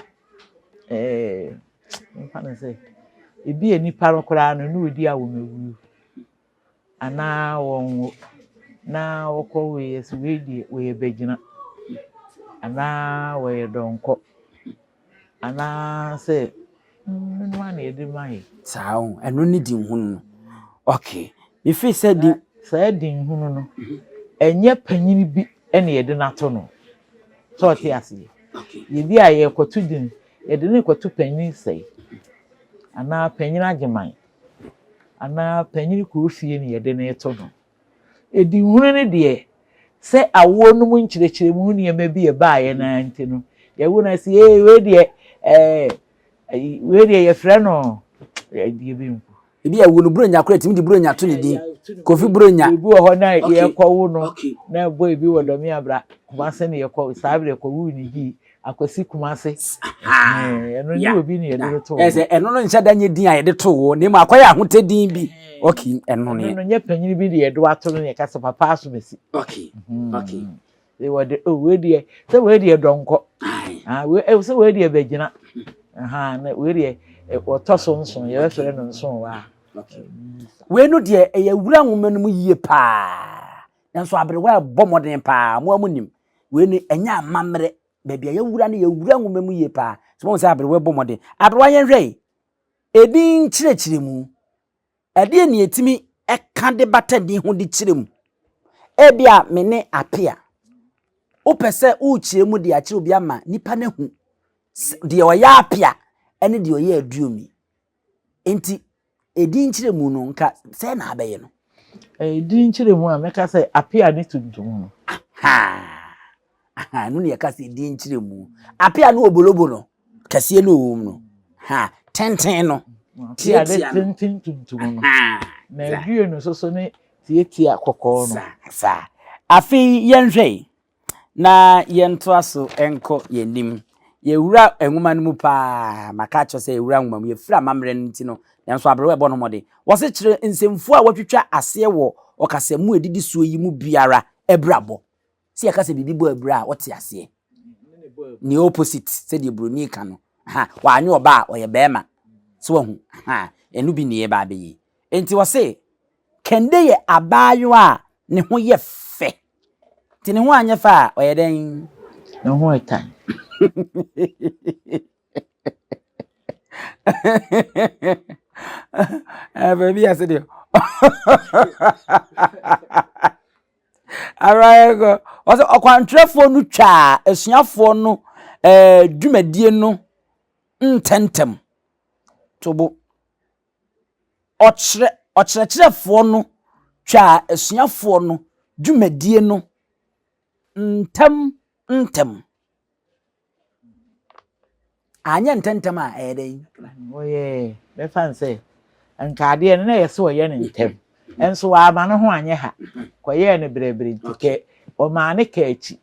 ɛɛ yɛmfa no sɛ ebia nnipa no koraa no na wɔredi awomawuo anaa wɔnwo na wɔkɔ wei ase, wei deɛ wɔyɛ bagyina anaa wɔyɛ dɔnkɔ. anaasɛ hunu a na yɛde ma yɛ. Saa o, ɛno ne din hunu no. Okay, mefiri sɛ din. Saa din hunu no, ɛnyɛ panyin bi na yɛde no ato no. Sɛ ɔte aseɛ. Yɛbi a yɛkɔto din, yɛde no kɔto panyin sɛe, anaa panyin agyeman, anaa panyin kuro fie na yɛde no to no. Adihunu no deɛ, sɛ awoɔ no mu nkyerɛkyerɛmu ho nneɛma bi a ɛbaeɛ no ara nti no, yɛagu no ase sɛ, Ee, wei deɛ, ɛɛ, ayi, wei deɛ yɛfrɛ no adeɛ bi mpo. Ebia awo no, Buronya koraa tumi de Buronya to ne din, Kofi Buronya. Ebi wɔ hɔ na yɛkɔwo no, na boy bi wɔ Dɔmeabra, Kumase na yɛkɔ, saa berɛ yɛkɔwoo no Gyii. akwasi kumase ɛno ne obi ne yɛde to ɛsɛ ɛno no nhyɛ da nyɛ din a yɛde to wɔ na mu akɔyɛ ahotɛ din bi ok ɛno ne ɛno nyɛ panyin bi de yɛde ato no yɛ kasa papa aso bɛsi ok mm. ok sɛ wɔde o oh, wei deɛ sɛ wei deɛ dɔnkɔ ah, eh, sɛ wei deɛ bɛgyina na wei deɛ eh, wɔtɔ so nso yɛbɛfrɛ no nso wɔ a wei no deɛ ɛyɛ wura nwoma no mu yie paa nanso aberewa ɛbɔ mmɔden paa mo amu nim Wei no, ɛnyɛ amammerɛ. Baabi a yɛawura no, yɛawura nwoma mu yie paa. So woahu sɛ aberewa bɔ mmɔden? Aberewa yɛnhwɛ yi, edin nkyerɛkyerɛmu, ɛdeɛn na yɛtumi ka de bata din ho de kyerɛ mu? Ebia me ne Apea, wopɛ sɛ wokyerɛ mu de akyerɛ obi ama nipa no ahu deɛ ɔyɛ Apea ne deɛ ɔyɛ Aduomi. Enti, edin nkyerɛmu no, nka sɛn na abɛyɛ no? Edin nkyerɛmu a, mɛka sɛ Apea ne Tuntum no. Aha! Ɛno na yɛka sɛ edin nkyerɛmu. Apea ne obolobo no, kɛseɛ ne ɔwom no. Ha! Tenten no, tiatia no. Tenten tuntum no. Na aduonu nso so ne tiatia kɔkɔɔ no. Saa, saa. Afei yɛnhwɛ yi. na yɛntoa so nkɔ yɛn anim. Yɛwura nwoma no mu paa. Maka akyerɛ sɛ yɛwura nwoma mu. Yɛfiri amammerɛ no nti no, nanso aberewa ɛbɔ no mmɔden. Wɔse kyerɛ nsɛmfua a wɔatwitwa aseɛ wɔ ɔkasamu a ɛdidi soɔ yi mu biara abirabɔ. Sɛ yɛka sɛ biribi bɔ abira a, wote aseɛ? Ne opposite, sɛdeɛ buroni ka no. Ha, wanyɛ ɔbaa a, ɔyɛ barima. So wahu? Ha, ɛno bi ne yɛba abɛyɛ yi. Enti wɔse Kɛnde yɛ abaayewa a ne ho yɛ fɛ. Nti ne ho anyɛ fɛ a, ɔyɛ dɛn? Ne ho yɛ tan. Baabi ase deɛ. Abayɛkɔ. Ɔsɛ ɔkwantwerɛfoɔ no twaa asuafoɔ no ɛɛ dwumadie no ntɛmntɛm. Tobo. Ɔkyerɛ ɔkyerɛkyerɛfoɔ no twaa asuafoɔ no dwumadie no ntɛm ntɛm. Anyɛ ntɛntɛm a ɛyɛ dɛn? Wɔyɛɛ bɛfa no sɛ nka adeɛ no na ɛyɛ sɛ ɔyɛ no ntɛm nso wama ne ho anyɛ ha kɔyɛɛ no berɛberɛ nti kɛ ɔmaa ne ka akyi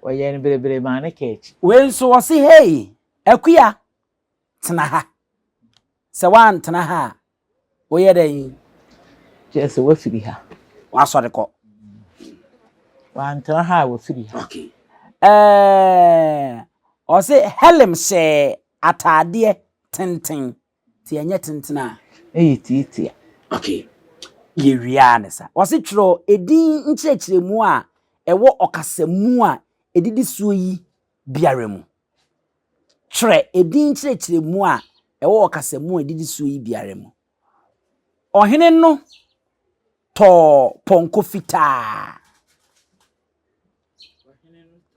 ɔyɛɛ no berɛberɛ maa ne ka akyi. Wei nso ɔse hei akuya. tena ha. Sɛ woantena ha a, woyɛ dɛn? Kyerɛ sɛ woafiri ha. Woasɔre kɔ. Woantena ha a, woafiri ha. Okay. Ɛɛ, ɔse Helen hyɛɛ ataadeɛ tenten. Ti ɛnyɛ tenten a. Ɛyɛ tiatia. Okay. Yɛwie a ne sa. Ɔse twerɛ edin nkyerɛkyerɛmu a ɛwɔ ɔkasamu a ɛdidi soɔ yi biara mu. Twerɛ edin nkyerɛkyerɛmu a ɛwɔ ɔkasamu a ɛdidi soɔ yi biara mu. Ɔhene no tɔɔ pɔnkɔ fitaa.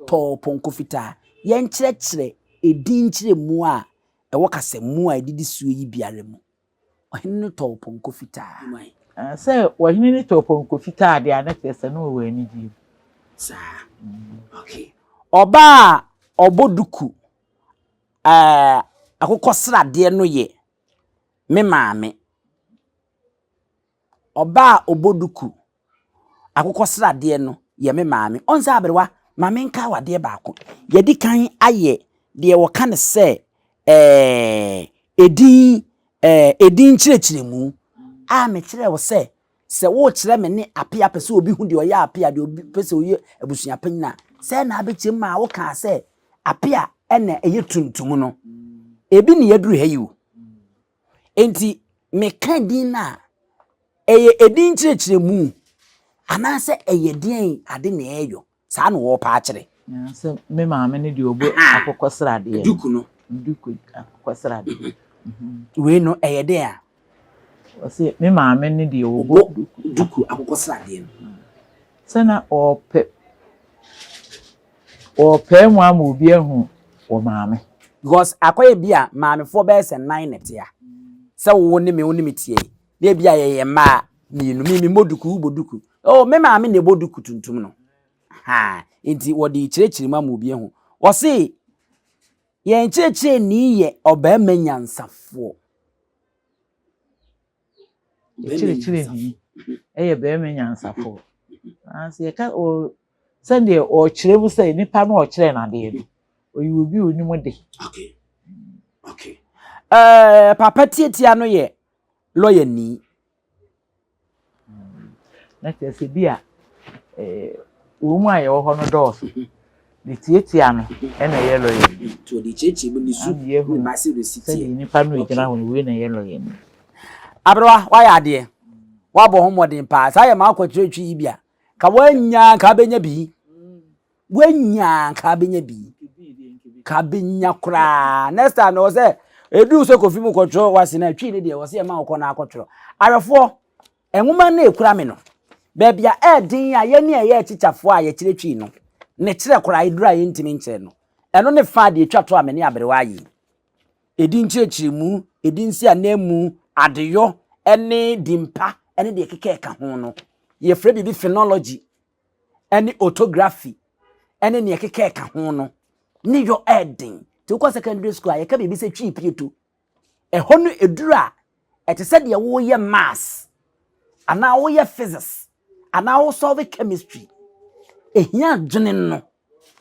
Tɔɔ pɔnkɔ fitaa. Yɛnkyerɛkyerɛ edin nkyerɛmu a ɛwɔ kasamu a ɛdidi soɔ yi biara mu. Ɔhene no tɔɔ pɔnkɔ fitaa. Sɛ ɔhene no tɔɔ pɔnkɔ fitaa deɛ a, na kyerɛ sɛ na ɔwɔ anigyeɛ mu. Saa. Okay. Ɔbaa a ɔbɔ duku eh, akokɔsradeɛ no yɛ me maame. Ɔbaa a ɔbɔ duku Akokɔsradeɛ no yɛ me maame. Ɔn sɛ aberewa, ma menkae wo adeɛ baako. Yɛadi kan ayɛ deɛ wɔka no sɛ eh, edin eh, edin nkyerɛkyerɛmu a mekyerɛɛ wo sɛ, sɛ worekyerɛ me ne Apea pɛ sɛ obi hu deɛ ɔyɛ Apea, deɛ obi pɛ sɛ ɔyɛ abusua panyin a, sɛn na abɛkyerɛ mu maa wokaa sɛ Apea na ɛyɛ tuntum no. Ebi na yɛaduru ha yi o. Enti meka din no a, ɛyɛ edin nkyerɛkyerɛmu anaasɛ ɛyɛ deɛn ade na ɛreyɔ? Saa na wɔrepɛ akyerɛ. Sɛ me maame no deɛ ɔbɔ akokɔsradeɛ. Duku no. Duku akokɔsradeɛ. Wei no ɛyɛ deɛn a? Ɔse me maame no deɛ ɔbɔ duku akokɔsradeɛ no. Sɛ na ɔrepɛ. Wɔrepae mu ama obi ahu wo maame. Because akɔyɛ bi a maamefoɔ bɛyɛ sɛ nan na ɛte a, sɛ wo ne me wo ne me teɛ yi, na ebi a yɛyɛ mmaa mmienu, me memmɔ duku, wobɔ duku. Oh, me maame na ɛbɔ duku tuntum no. Ha, nti wɔde rekyerɛkyerɛ mu ama obi ahu. Wɔse, yɛn kyerɛkyerɛni yɛ ɔbarima nyansafoɔ. Ɔkyerɛkyerɛni yɛ barima nyansafo. Nanso yɛka ɔ sɛdeɛ ɔrekyerɛ mu sɛ nipa no a ɔkyerɛɛ no adeɛ no, ɔyɛ obi a ɔnim de. Okay. Okay. Uh, papa tiatia no yɛ lɔya ni. Na kyerɛ sɛ bi a eh, wɔn mu a yɛwɔ hɔ no dɔɔso. De tiatia no na ɛyɛ lɔya ni. Nti ɔde tiatia mu ne su ne mmase resi teɛ. Sɛdeɛ nnipa no regyina hɔ no, wei na ɛyɛ lɔya ni. Aberewa, woayɛ adeɛ. Woabɔ ho mmɔden paa. Saa yɛ m'akwankyerɛ twi yi bi a, ka woanya a, nka wobɛnya bi. Woanya a, nka wobɛnya bi. Ka wobɛnya koraa. Next time, ɛwɔ sɛ ɛduru sɛ kɔfi mu kɔtwerɛ w'ase no a, twi no deɛ ɛwɔ sɛ yɛma wokɔ na akɔtwerɛ. Awɛfoɔ, Nwoma no a ekura me no, baabi a ɛyɛ den a yɛne a yɛyɛ atikyafoɔ a yɛkyerɛ twi no ne kyerɛ koraa eduru a yɛntumi nkyerɛ no, ɛno ne fã a deɛ etwa to a me ne aberewa ayɛ yi, edin nkyerɛkyerɛmu, edin si ananmu, adeyɔ, ne din pa ne deɛ ɛkeka a ɛka ho no. Yɛfrɛ biribi phonology ne orthography ne nea ɛkeka a ɛka ho no ne yɔ ɛyɛ den. Nti wokɔ secondary school a yɛka biribi sɛ twi pieto, Ɛhɔ no aduru a, ɛte sɛ deɛ woreyɛ maths anaa woreyɛ physics anaa woresɔlve chemistry. Ɛhia dwene no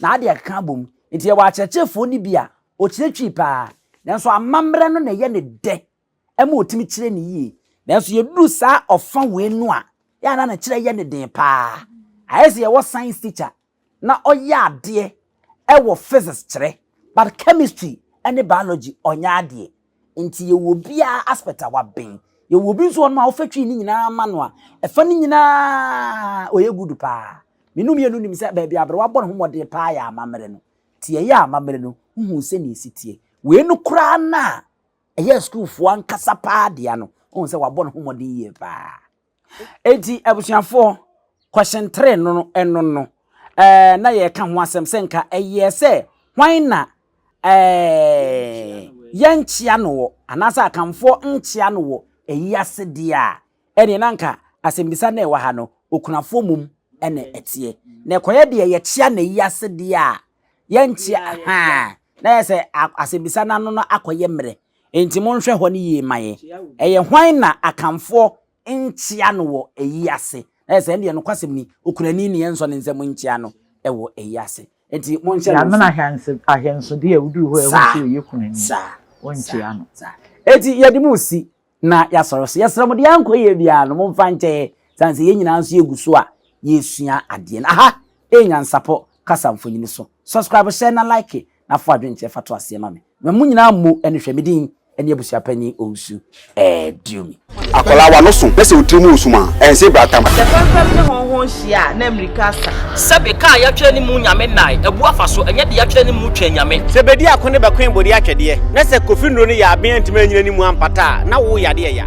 na ade ɛka abom. Nti yɛwɔ akyerɛkyerɛfoɔ no bi a ɔkyerɛkyiri paa nanso amammerɛ no na ɛyɛ ne dɛ ɛma ɔtumi kyerɛ ne yie. Nanso yɛduru saa ɔfa wei no a, yɛ a na ne kyerɛ yɛ ne den paa. Ayɛ sɛ yɛwɔ science teacher na ɔyɛ adeɛ wɔ physics kyerɛ but chemistry ne biology ɔnyɛ adeɛ nti yɛwɔ obiara aspect a waben yɛwɔ obi nso hɔnom a wofa twii ne nyinaa ma no a ɛfa ne nyinaa ɔyɛ good paa me no mmienu nim sɛ baabi aberewa bɔ ne ho mmɔden paa yɛ amammerɛ no nti yɛyɛ amammerɛ no wohuu sɛ ne ɛsi tie wei no koraa no a ɛyɛ sukuufoɔ ankasa paa dea no wohuu sɛ wabɔ ne ho mmɔden yie paa Enti abusuafoɔ, kɔhyentere no no, ɛno no, eh, na yɛreka ho asɛm sɛ nka ɛyɛ sɛ hwan na eh, yɛnkyea no wɔ anaasɛ akanfoɔ nkyea no wɔ ɛyi ase deɛ a ɛne na nka asɛmbisa na ɛwɔ ha no okunafoɔ mum ɛna ɛteɛ na ɛkɔyɛ deɛ yɛkyea na ɛyi ase deɛ a yɛnkyea ha na yɛ sɛ asɛmbisa no ano no akɔyɛ mmerɛ Enti monhwɛ hɔ no yie mma yɛn. Ɛyɛ hwan na Akanfoɔ nkyea no wɔ ayi ase? Na ayɛ sɛ ɛndeɛ nokwasɛm ni, Okurani ne yɛnsɔ ne nsam nkyea no wɔ ayi ase. Enti monhyɛ no nso. Yɛamene ahyɛnsodeɛ a woduru hɔ a ɛho sɛ ɔyɛ kunani no, wɔnkyea no. Enti yɛde mo resi na yɛasɔre so. Yɛsrɛ mo, deɛ ankɔ yie biara no, momfa nkyɛ yɛn, ɛsiane sɛ yɛn nyinaa nso yɛgu so a yɛresua adeɛ no. Aha yɛ nyansapɔ kasa mfonyin so. Subscribe hyɛ na like na fa w'adwenkyerɛ fa to aseɛ ma me. Ma mu nyinaa mmu ɛne hwɛ me din ɛne abusuapanyin Owusu Dumy. Akwadaa w'ano so na sɛ wo tiri mu wɔ sum a, ɛnse bra tam. Sɛ fɛmfɛm ne hɔnhɔn hyia a, na mmirika asa. Sɛbe kaa yɛatwerɛ ne mu Nyame nnae abu afa so, ɛnyɛ deɛ yɛatwerɛ ne mu Twɛn Nyame. Sɛ bɛdi ako ne bɛkoe bɔdeɛ atwɛdeɛ, na sɛ Kofi Nnuro no yaaben antumi anyina ne mu ampata a, na wo yadeɛ ya.